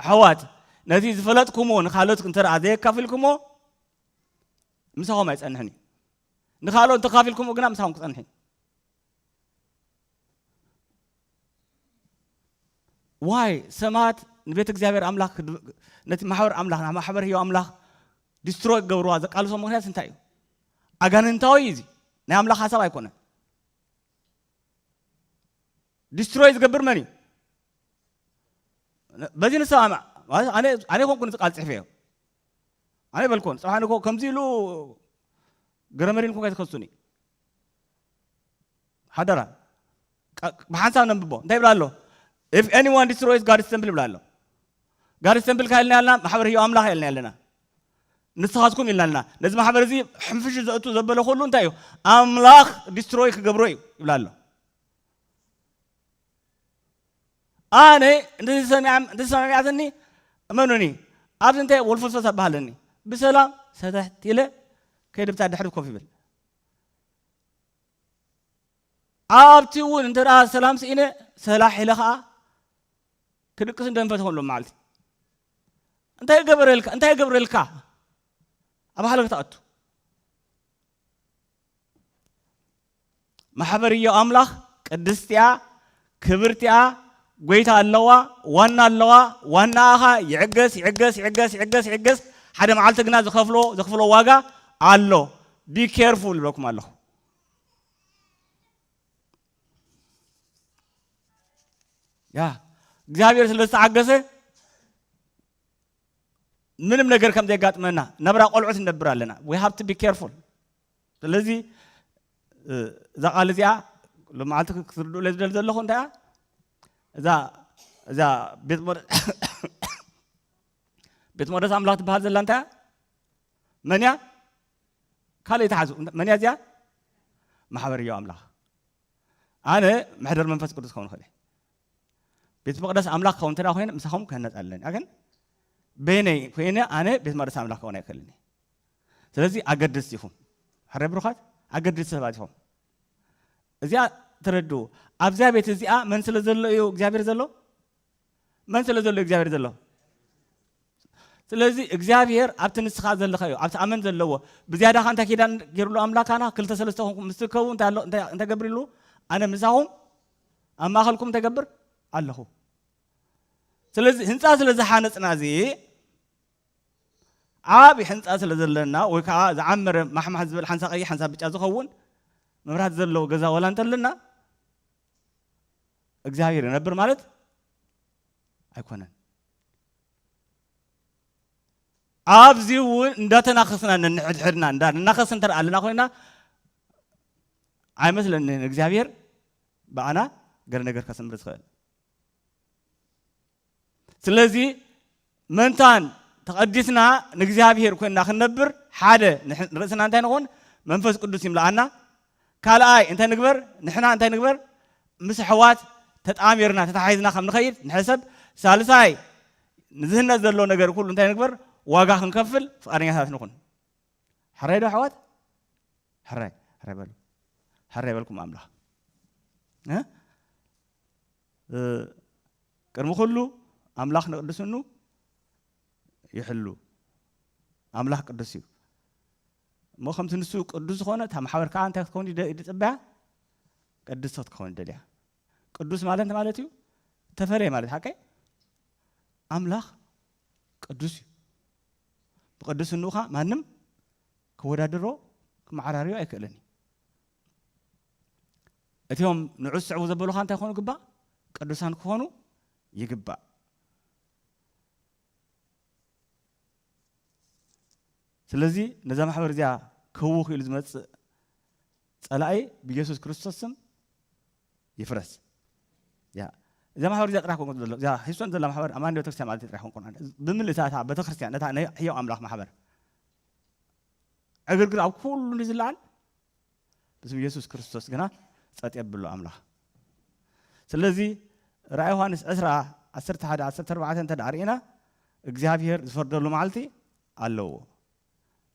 ኣሕዋት ነቲ ዝፈለጥኩሞ ንካልኦት እንተ ዘየካፊልኩሞ ምሳኹም ኣይጸንሕን እዩ ንካልኦት እንተካፊልኩሞ ግና ምሳኹም ክጸንሕ እዩ ዋይ ሰማት ንቤት እግዚኣብሔር ኣምላኽ ነቲ ማሕበር ኣምላኽ ማሕበር ህዮ ኣምላኽ ዲስትሮ ክገብርዋ ዘቃልሶ ምክንያት እንታይ እዩ ኣጋንንታዊ እዩ እዚ ናይ ኣምላኽ ሓሳብ ኣይኮነን ዲስትሮይ ዝገብር መን እዩ በዚ ንሰማማዕ ኣነ ኮንኩ ን ቃል ፅሕፈ እዮ ኣነ በልኮን ፅባሕ ንኮ ከምዚ ኢሉ ገረመሪን ኮንካ ይትከሱኒ ሓደራ ብሓንሳብ ነንብቦ እንታይ ይብላ ኣሎ if anyone destroys God's temple ይብላ ኣሎ ጋድስ ተምፕል ካይልና ያልና ማሕበር ህዮ ኣምላኽ ያልና ያለና ንስኻትኩም ኢልና ኣለና ነዚ ማሕበር እዚ ሕንፍሽ ዘእቱ ዘበለ ኩሉ እንታይ እዩ ኣምላኽ ዲስትሮይ ክገብሮ እዩ ይብላ ኣሎ ኣነ እንደዚ ሰሚዓም እንደዚ ሰሚዓትኒ እመኑኒ ኣብዚ እንታይ ወልፈልፈስ ኣባሃለኒ ብሰላም ሰተሕት ኢለ ከይድብታ ድሕሪ ኮፍ ይብል ኣብቲ እውን እንተ ሰላም ስኢነ ሰላሕ ኢለ ከዓ ክድቅስ እንደንፈት ኾንሎ መዓልቲ እንታይ ገበረልካ እንታይ ገብረልካ ኣብ ሃለክ ተኣቱ ማሕበር እዮ ኣምላኽ ቅድስቲያ ክብርቲኣ ጎይታ ኣለዋ ዋና ኣለዋ ዋናኣ ኸኣ ይዕገስ ይዕገስ ይዕገስ ይዕገስ ይዕገስ ሓደ መዓልቲ ግና ዝኸፍሎ ዘኽፍሎ ዋጋ ኣሎ ቢ ኬርፉል ይብለኩም ኣለኹ ያ እግዚኣብሔር ስለ ዝተዓገሰ ምንም ነገር ከም ዘጋጥመና ነብራ ቆልዑት ነብር ኣለና ዊ ሃብ ቢ ኬርፉል ስለዚ እዛ ቃል እዚኣ ሎማዓንቲ ክትርድኡለይ ዝደሊ ዘለኹ እንታይ እያ እዛ እዛ ቤት መቅደስ ቤት መቅደስ ኣምላኽ ትበሃል ዘላ እንታይ እያ መን እያ ካልእ ይትሓዙ መን እያ እዚኣ ማሕበር እዮ ኣምላኽ ኣነ መሕደር መንፈስ ቅዱስ ክኸውን ክእል ቤት መቅደስ ኣምላኽ ክኸውን እንተ ኮይነ ምሳኹም ክህነፅ ኣለኒ ግን በይነይ ኮይነ ኣነ ቤት መቅደስ ኣምላኽ ክኸውን ኣይክእልን ስለዚ ኣገደስቲ ኢኹም ሕረ ብሩኻት ኣገደስቲ ሰባት ኢኹም እዚኣ ተረድኡ ኣብዚያ ቤት እዚኣ መን ስለ ዘሎ እዩ እግዚኣብሔር ዘሎ መን ስለ ዘሎ እግዚኣብሔር ዘሎ ስለዚ እግዚኣብሔር ኣብቲ ንስኻ ዘለካ እዩ ኣብቲ ኣመን ዘለዎ ብዝያዳ ካ እንታይ ኪዳን ገይሩሉ ኣምላካና ክልተ ሰለስተ ኮንኩም ምስ ትርከቡ እንታይ ገብር ኢሉ ኣነ ምሳኹም ኣብ ማእኸልኩም እንታይ ገብር ኣለኹ ስለዚ ህንፃ ስለ ዝሓነፅና እዚ ዓቢ ሕንጻ ስለ ዘለና ወይ ከዓ ዝዓመረ ማሕማሕ ዝበል ሓንሳ ቀይሕ ሓንሳ ብጫ ዝኸውን መብራት ዘለዎ ገዛ ወላ እንተለና እግዚኣብሔር ይነብር ማለት ኣይኮነን። ኣብዚ እውን እንዳተናኸስና ነንሕድሕድና እንዳ እናኸስ እንተ ኣለና ኮይና ኣይመስለንን እግዚኣብሔር ብኣና ገለ ነገር ከስምር ዝኽእል ስለዚ መንታን ተቐዲስና ንእግዚኣብሔር ኮይንና ክንነብር ሓደ ርእስና እንታይ ንኾን መንፈስ ቅዱስ ይምልኣና ካልኣይ እንታይ ንግበር ንሕና እንታይ ንግበር ምስ ኣሕዋት ተጣሚርና ተታሓሒዝና ከም ንኸይድ ንሕሰብ ሳልሳይ ንዝህነት ዘሎ ነገር ኩሉ እንታይ ንግበር ዋጋ ክንከፍል ፍቃደኛታት ንኹን ሕራይ ዶ ኣሕዋት ሕራይ ሕራይ በሉ ሕራይ በልኩም ኣምላኽ ቅድሚ ኩሉ ኣምላኽ ንቅድስንኡ ይሕሉ። ኣምላኽ ቅዱስ እዩ እሞ ከምቲ ንሱ ቅዱስ ዝኾነ እታ ማሕበር ከዓ እንታይ ክትከውን እዩ ዝፅበያ ቅድስቲ ክትከውን ይደልያ ቅዱስ ማለት እንታይ ማለት እዩ ተፈለየ ማለት ሓቀይ ኣምላኽ ቅዱስ እዩ ብቅድስንኡ ከዓ ማንም ክወዳደሮ ክመዓራርዮ ኣይክእልን እዩ እቲም ንዑ ዝስዕቡ ዘበሉኻ እንታይ ክኾኑ ግባእ ቅዱሳን ክኾኑ ይግባእ ስለዚ ነዛ ማሕበር እዚኣ ክህው ክኢሉ ዝመፅእ ፀላኢ ብየሱስ ክርስቶስ ስም ይፍረስ ያ እዛ ማሕበር እዚኣ ጥራሕ ኮንኩን ዘሎ እዛ ሂሶን ዘላ ማሕበር ኣማኒ ቤተክርስትያን ማለት ጥራሕ ኮንኩን ብምልእታ እታ ቤተክርስትያን ነታ ናይ ሕያው ኣምላኽ ማሕበር ዕግርግር ኣብ ኩሉ ንዝለዓል ብስም የሱስ ክርስቶስ ግና ጸጥ የብሎ ኣምላኽ ስለዚ ራእይ ዮሃንስ ዕስራ ዓሰርተ ሓደ ዓሰርተ ኣርባዕተ እንተ ርኢና እግዚኣብሄር ዝፈርደሉ መዓልቲ ኣለዎ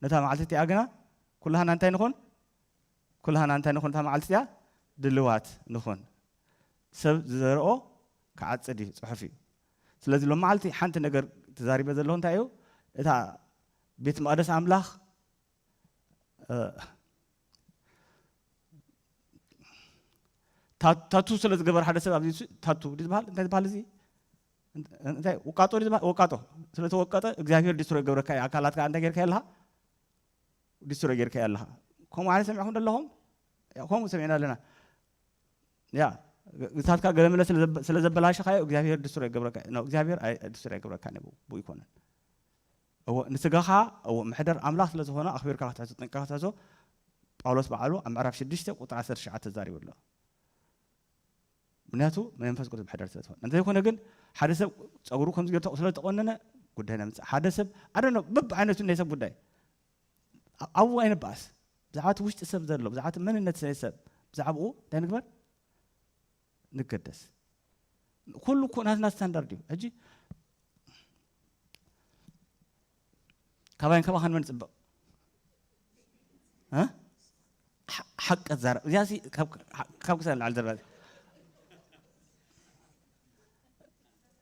ነታ መዓልቲ እቲኣ ግና ኩላህና እንታይ ንኹን ኩላህና እንታይ ንኹን እታ መዓልቲ እቲኣ ድልዋት ንኹን ሰብ ዝዘርኦ ክዓፅድ እዩ ፅሑፍ እዩ ስለዚ ሎም መዓልቲ ሓንቲ ነገር ተዛሪበ ዘለኹ እንታይ እዩ እታ ቤት መቅደስ ኣምላኽ ታቱ ስለ ዝገበረ ሓደ ሰብ ኣብዚ ታቱ ዝበሃል እንታይ ዝበሃል እዚ እንታይ ወቃጦ ዝበሃል ወቃጦ ስለ ተወቀጠ እግዚኣብሄር ዲስትሮይ ገብረካ እዩ ኣካላትካ እንታይ ጌርካ ኣለኻ ዲስትሮይ ጌርካ ኣለኻ ከምኡ ዓይነት ሰሚዕኹም ዘለኹም ከምኡ ሰሚዕና ኣለና ያ ግሳትካ ገለመለ ስለ ዘበላሸኻዮ እግዚኣብሄር ዲስትሮይ ገብረካ እዩ እግዚኣብሄር ዲስትሮይ ገብረካ ንብኡ ይኮነን እወ ንስጋኻ እወ ምሕደር ኣምላኽ ስለ ዝኾነ ኣኽቢርካ ክትሕዞ ጠንቂቕካ ትሕዞ ጳውሎስ ባዕሉ ኣብ ምዕራፍ ሽዱሽተ ቁጽሪ ዓሰርተ ትሽዓተ ተዛሪቡ ኣሎ ምክንያቱ መንፈስ ቅዱስ ምሕደር ስለ ዝኾነ እንተይኮነ ግን ሓደ ሰብ ጸጉሩ ከምዚ ገይሩ ስለ ተቖነነ ጉዳይ ነምጽእ ሓደ ሰብ ኣደነ በብ ዓይነቱ ናይ ሰብ ጉዳይ ኣብኡ ኣይንበኣስ ብዛዕባ እቲ ውሽጢ ሰብ ዘሎ ብዛዕባ እቲ መንነት ናይ ሰብ ብዛዕባኡ እንታይ ንግበር ንገደስ ኩሉ እኮ ናትና ስታንዳርድ እዩ ሕጂ ካባይን ካባኻን መን ፅብቕ ሓቂ ዛረብ እዚኣ ካብ ክሳብ ንላዕሊ ዘረባ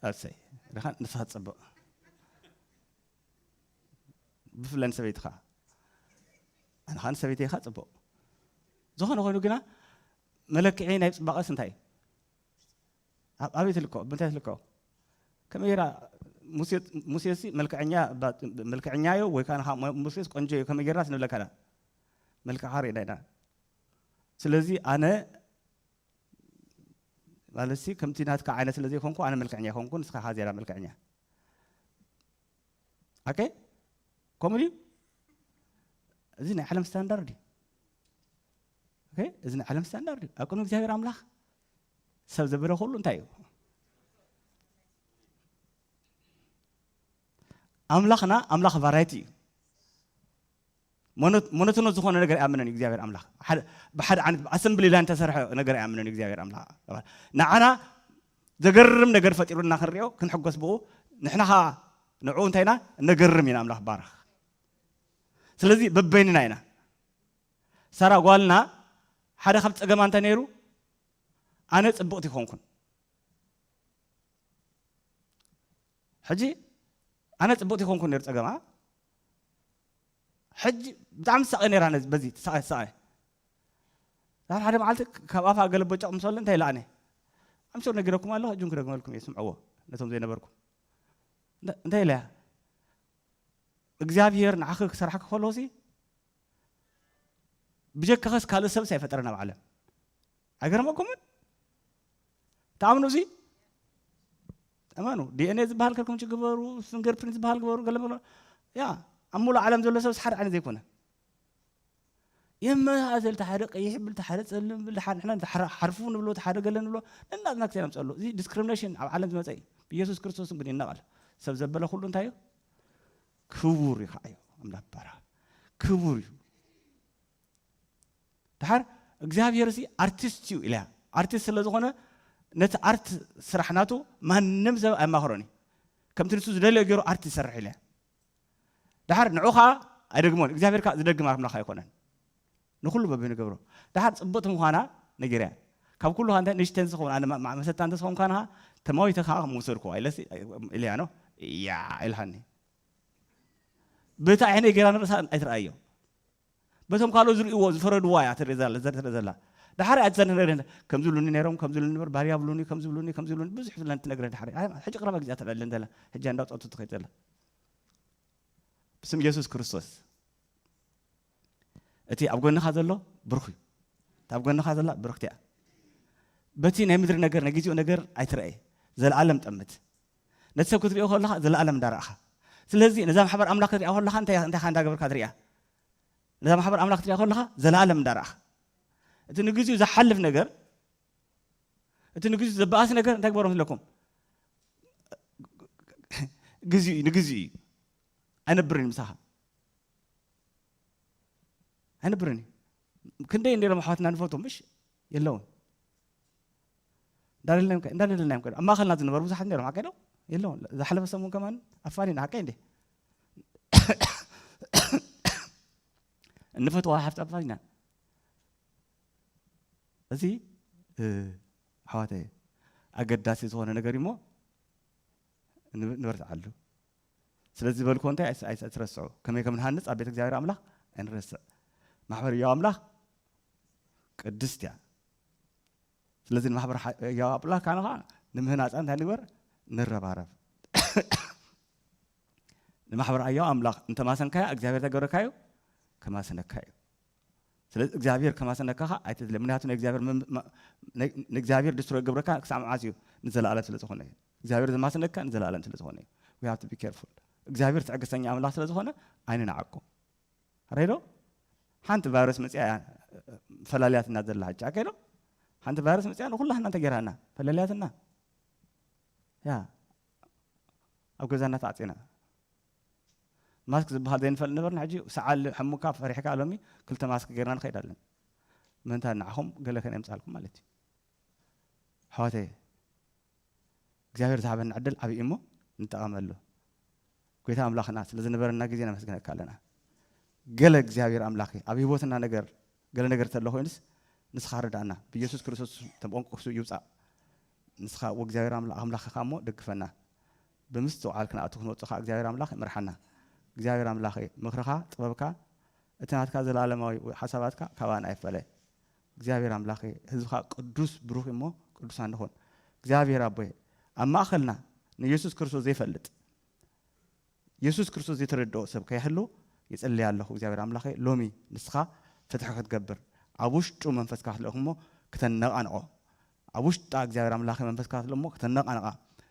ኣሰይ ርኻ ንስኻ ፅብቕ ብፍላይ ንሰበይትኻ ኣንኻ ንሰበይተይኻ ፅቡቕ ዝኾነ ኮይኑ ግና መለክዒ ናይ ጽባቐስ እንታይ እዩ? ኣበይ ትልከ ብምንታይ ትልከ ከመይ ጌራ ሙሴሲ መልክዐኛ መልክዐኛ እዩ ወይ ከዓ ሙሴስ ቆንጆ እዩ ከመይ ጌርና ስንብለካና መልክዓ ርኢና ኢና ስለዚ ኣነ ማለትሲ ከምቲ ናትካ ዓይነት ስለ ዘይኮንኩ ኣነ መልክዐኛ ይኮንኩ ንስኻ ካ ዜራ መልክዐኛ ኣከ ከምኡ ድዩ እዚ ናይ ዓለም ስታንዳርድ እዩ ኦኬ እዚ ናይ ዓለም ስታንዳርድ እዩ ኣብ ቅድሚ እግዚኣብሔር ኣምላኽ ሰብ ዘበለ ኩሉ እንታይ እዩ ኣምላኽና ኣምላኽ ቫራይቲ እዩ ሞኖ- ሞኖቶኖስ ዝኾነ ነገር ኣይኣምንን እዩ እግዚኣብሔር ኣምላኽ ሓደ- ብሓደ ዓይነት ኣሰምብሊ ላይን ተሰርሐ ነገር ኣይኣምንን እዩ እግዚኣብሔር ኣምላኽ ንዓና ዘገርም ነገር ፈጢሩና ክንሪኦ ክንሕጎስ ብኡ ንሕና ከዓ ንዕኡ እንታይ ኢና እነገርም ኢና ኣምላኽ ባረኽ ስለዚ በበይንና ኢና ሳራ ጓልና ሓደ ካብ ጸገማ እንተ ነይሩ ኣነ ጽብቕቲ ኮንኩን ሕጂ ኣነ ጽብቕቲ ኮንኩን ነይሩ ጸገማ ሕጂ ብጣዕሚ ትሳቐ ነይራ ነዚ በዚ ትሳቐ ትሳቐ ናብ ሓደ መዓልቲ ካብ ኣፋ ገለ ቦጨቕ ምስ በለ እንታይ ለኣነ ኣምሶር ነጊረኩም ኣለኹ ሕጂ ክደግመልኩም እየ ስምዕዎ ነቶም ዘይነበርኩም እንታይ ኢለያ እግዚኣብሄር ንዓኺ ክሰርሓ ክከሎሲ ብጀካኸስ ካልእ ሰብስ ኣይፈጠረን ኣብ ዓለም ኣይገርመኩምን ተኣምኑ እዚ እመኑ ዲኤንኤ ዝበሃል ከልኩም ግበሩ ፊንገር ፕሪንት ዝበሃል ግበሩ ገለ ያ ኣብ ሙሉእ ዓለም ዘሎ ሰብስ ሓደ ዓይነት ዘይኮነ የመሳሰል እቲ ሓደ ቀይሕ ብል እቲ ሓደ ፀልም ብል ሓንሕና ሓርፉ ንብሎ እቲ ሓደ ገለ ንብሎ ነናትና ክሰ ምፀሎ እዚ ዲስክሪሚኔሽን ኣብ ዓለም ዝመፀ እዩ ብኢየሱስ ክርስቶስ ግን ይነቐል ሰብ ዘበለ ኩሉ እንታይ እዩ ክቡር እዩ ከዓዮ ኣምላክ ባራ ክቡር እዩ ድሓር እግዚኣብሔር ሲ ኣርቲስት እዩ ኢለያ ኣርቲስት ስለ ዝኾነ ነቲ ኣርት ስራሕ ናቱ ማንም ሰብ ኣየማኽሮን እዩ ከምቲ ንሱ ዝደለዮ ገይሩ ኣርት ይሰርሕ ኢለያ ድሓር ንዑ ከዓ ኣይደግሞን እግዚኣብሔር ከዓ ዝደግም ኣምላኽ ኣይኮነን ንኹሉ በቢ ንገብሮ ደሓር ጽብቕቲ ምዃና ነጊረያ ካብ ኩሉ ከኣ ንእሽተይ እንተዝኸውን ኣነ ማእ መሰታ እንተዝኸውን ከኣ ንሃ ተማዊተ ከኣ ምወሰድኩዋ ኢለሲ ኢለያ ኖ ያዕ ኢልሃኒ በቲ ዓይነይ ገይራ ንርእሳ ኣይትርኣዮ በቶም ካልኦት ዝርእይዎ ዝፈረድዋ እያ ትርኢ ዘላ ዘርኢ ዘላ ድሓር እያ ትዘንረደን ከም ዝብሉኒ ነይሮም ከም ዝብሉኒ ነበር ባርያ ብሉኒ ከም ዝብሉኒ ከም ዝብሉኒ ብዙሕ ዝለን ትነግረ ድሓር ሕጂ ቅረባ ግዜ ትረለን ዘላ ሕጂ እንዳውፀቱ ትኸይድ ዘላ ብስም ኢየሱስ ክርስቶስ እቲ ኣብ ጎንኻ ዘሎ ብሩኽ እዩ እቲ ኣብ ጎንኻ ዘላ ብርክቲ እያ በቲ ናይ ምድሪ ነገር ናይ ግዜኡ ነገር ኣይትረኣየ ዘለኣለም ጠምት ነቲ ሰብ ክትሪኦ ከለኻ ዘለኣለም እንዳረኣኻ ስለዚ ነዛ ማሕበር ኣምላኽ ክትሪኣ ከለኻ እንታይ እንታይካ እንዳገበርካ ትሪኣ ነዛ ማሕበር ኣምላኽ ክትሪኣ ከለኻ ዘለኣለም እንዳረኣኻ እቲ ንግዚኡ ዝሓልፍ ነገር እቲ ንግዚኡ ዘበኣሲ ነገር እንታይ ግበሮ ምስለኩም ግዚኡ እዩ ንግዚኡ እዩ ኣይነብርን ምሳኻ ኣይነብርን እዩ ክንደይ እንዲሎም ኣሕዋትና ንፈልጦም ምሽ የለውን እንዳደለናዮም ከ ኣብ ማእኸልና ዝነበሩ ብዙሓት ነሮም ሓቀ ዶ የለውን ዝሓለፈ ሰሙን ከማን ኣፋኒና ሓቀ እንዴ እንፈትዋ ሓፍቲ ኣፋኒና እዚ ኣሕዋተ ኣገዳሲ ዝኾነ ነገር እዩሞ ንበርትዓሉ ስለዚ ዝበልክዎ እንታይ ኣይት ኣይትረስዑ ከመይ ከም ንሃንጽ ኣብ ቤት እግዚኣብሔር ኣምላኽ ኣይንረስዕ ማሕበር ህያው ኣምላኽ ቅድስት እያ ስለዚ ንማሕበር ሓ- ህያው ኣምላኽ ካነ ከዓ ንምህናፃ እንታይ ንግበር ንረባረብ ንማሕበር ኣያው ኣምላኽ እንተማሰንካያ እግዚኣብሔር ተገብረካዩ ከማሰነካ እዩ ስለዚ እግዚኣብሄር ከማስነካ ከኣ ኣይትድለ ምክንያቱ ናይ እግዚኣብሄር ንእግዚኣብሄር ድስትሮይ ገብረካ ክሳዕ መዓስ እዩ ንዘለኣለም ስለ ዝኾነ እዩ እግዚኣብሄር ዘማስነካ ንዘለኣለም ስለ ዝኾነ እዩ we have to be careful እግዚኣብሄር ትዕግስተኛ ኣምላኽ ስለ ዝኾነ ኣይንንዓቆ ረዶ ሓንቲ ቫይረስ መፅያ እያ ፈላልያትና ዘላ ሕጂ ኣከዶ ሓንቲ ቫይረስ መፅያ ንኩላህና እንተጌራና ፈለልያትና ያ ኣብ ገዛና ተዓፂና ማስክ ዝብሃል ዘይንፈልጥ ነበርና ሕጂ ሰዓል ሕሙካ ፈሪሕካ ሎሚ ክልተ ማስክ ጌርና ንኸይድ ኣለና ምእንታ ንዓኹም ገለ ከነምጻልኩም ማለት እዩ ኣሕዋተየ እግዚኣብሔር ዝሃበና ዕድል ዓብዪ እሞ ንጠቐመሉ ጎይታ ኣምላኽና ስለ ዝነበረና ግዜ ነመስግነካ ኣለና ገለ እግዚኣብሔር ኣምላኽ ኣብ ህይወትና ነገር ገለ ነገር ተሎ ኮይኑስ ንስኻ ርዳእና ብኢየሱስ ክርስቶስ ተንቆንቁሱ ይውፃእ ንስኻ እግዚኣብሔር ኣምላኽኻ እሞ ደግፈና ብምስትውዓል ክንኣቱ ክንወጽእ ከኣ እግዚኣብሔር ኣምላኽ ይምርሓና። እግዚኣብሔር ኣምላኸይ ምኽርኻ ጥበብካ እቲ ናትካ ዘለኣለማዊ ሓሳባትካ ካባና ኣይፈለ። እግዚኣብሔር ኣምላኸይ ህዝብኻ ቅዱስ ብሩኽ እዩሞ ቅዱሳን ንኹን። እግዚኣብሔር ኣቦይ ኣብ ማእኸልና ንየሱስ ክርስቶስ ዘይፈልጥ የሱስ ክርስቶስ ዘይተረድኦ ሰብ ከይሕሉ ይጽልይ ኣለኹ። እግዚኣብሔር ኣምላኸይ ሎሚ ንስኻ ፍትሒ ክትገብር ኣብ ውሽጡ መንፈስካ ክትልእኽ እሞ ክተነቓንቖ ኣብ ውሽጣ እግዚኣብሔር ኣምላክ መንፈስ ክኣትሎ እሞ ክተነቃንቃ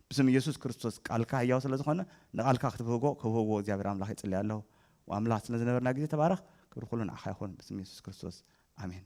ብስም እየሱስ ክርስቶስ ቃልካ ህያው ስለ ዝኮነ ንቃልካ ክትብህጎ ከብህጎ እግዚኣብሔር ኣምላክ ይጽሊ ኣለኩ ኣምላክ ስለ ዝነበርና ግዜ ተባረክ ክብሪ ኩሉ ንዓካ ይኩን ብስም እየሱስ ክርስቶስ ኣሜን።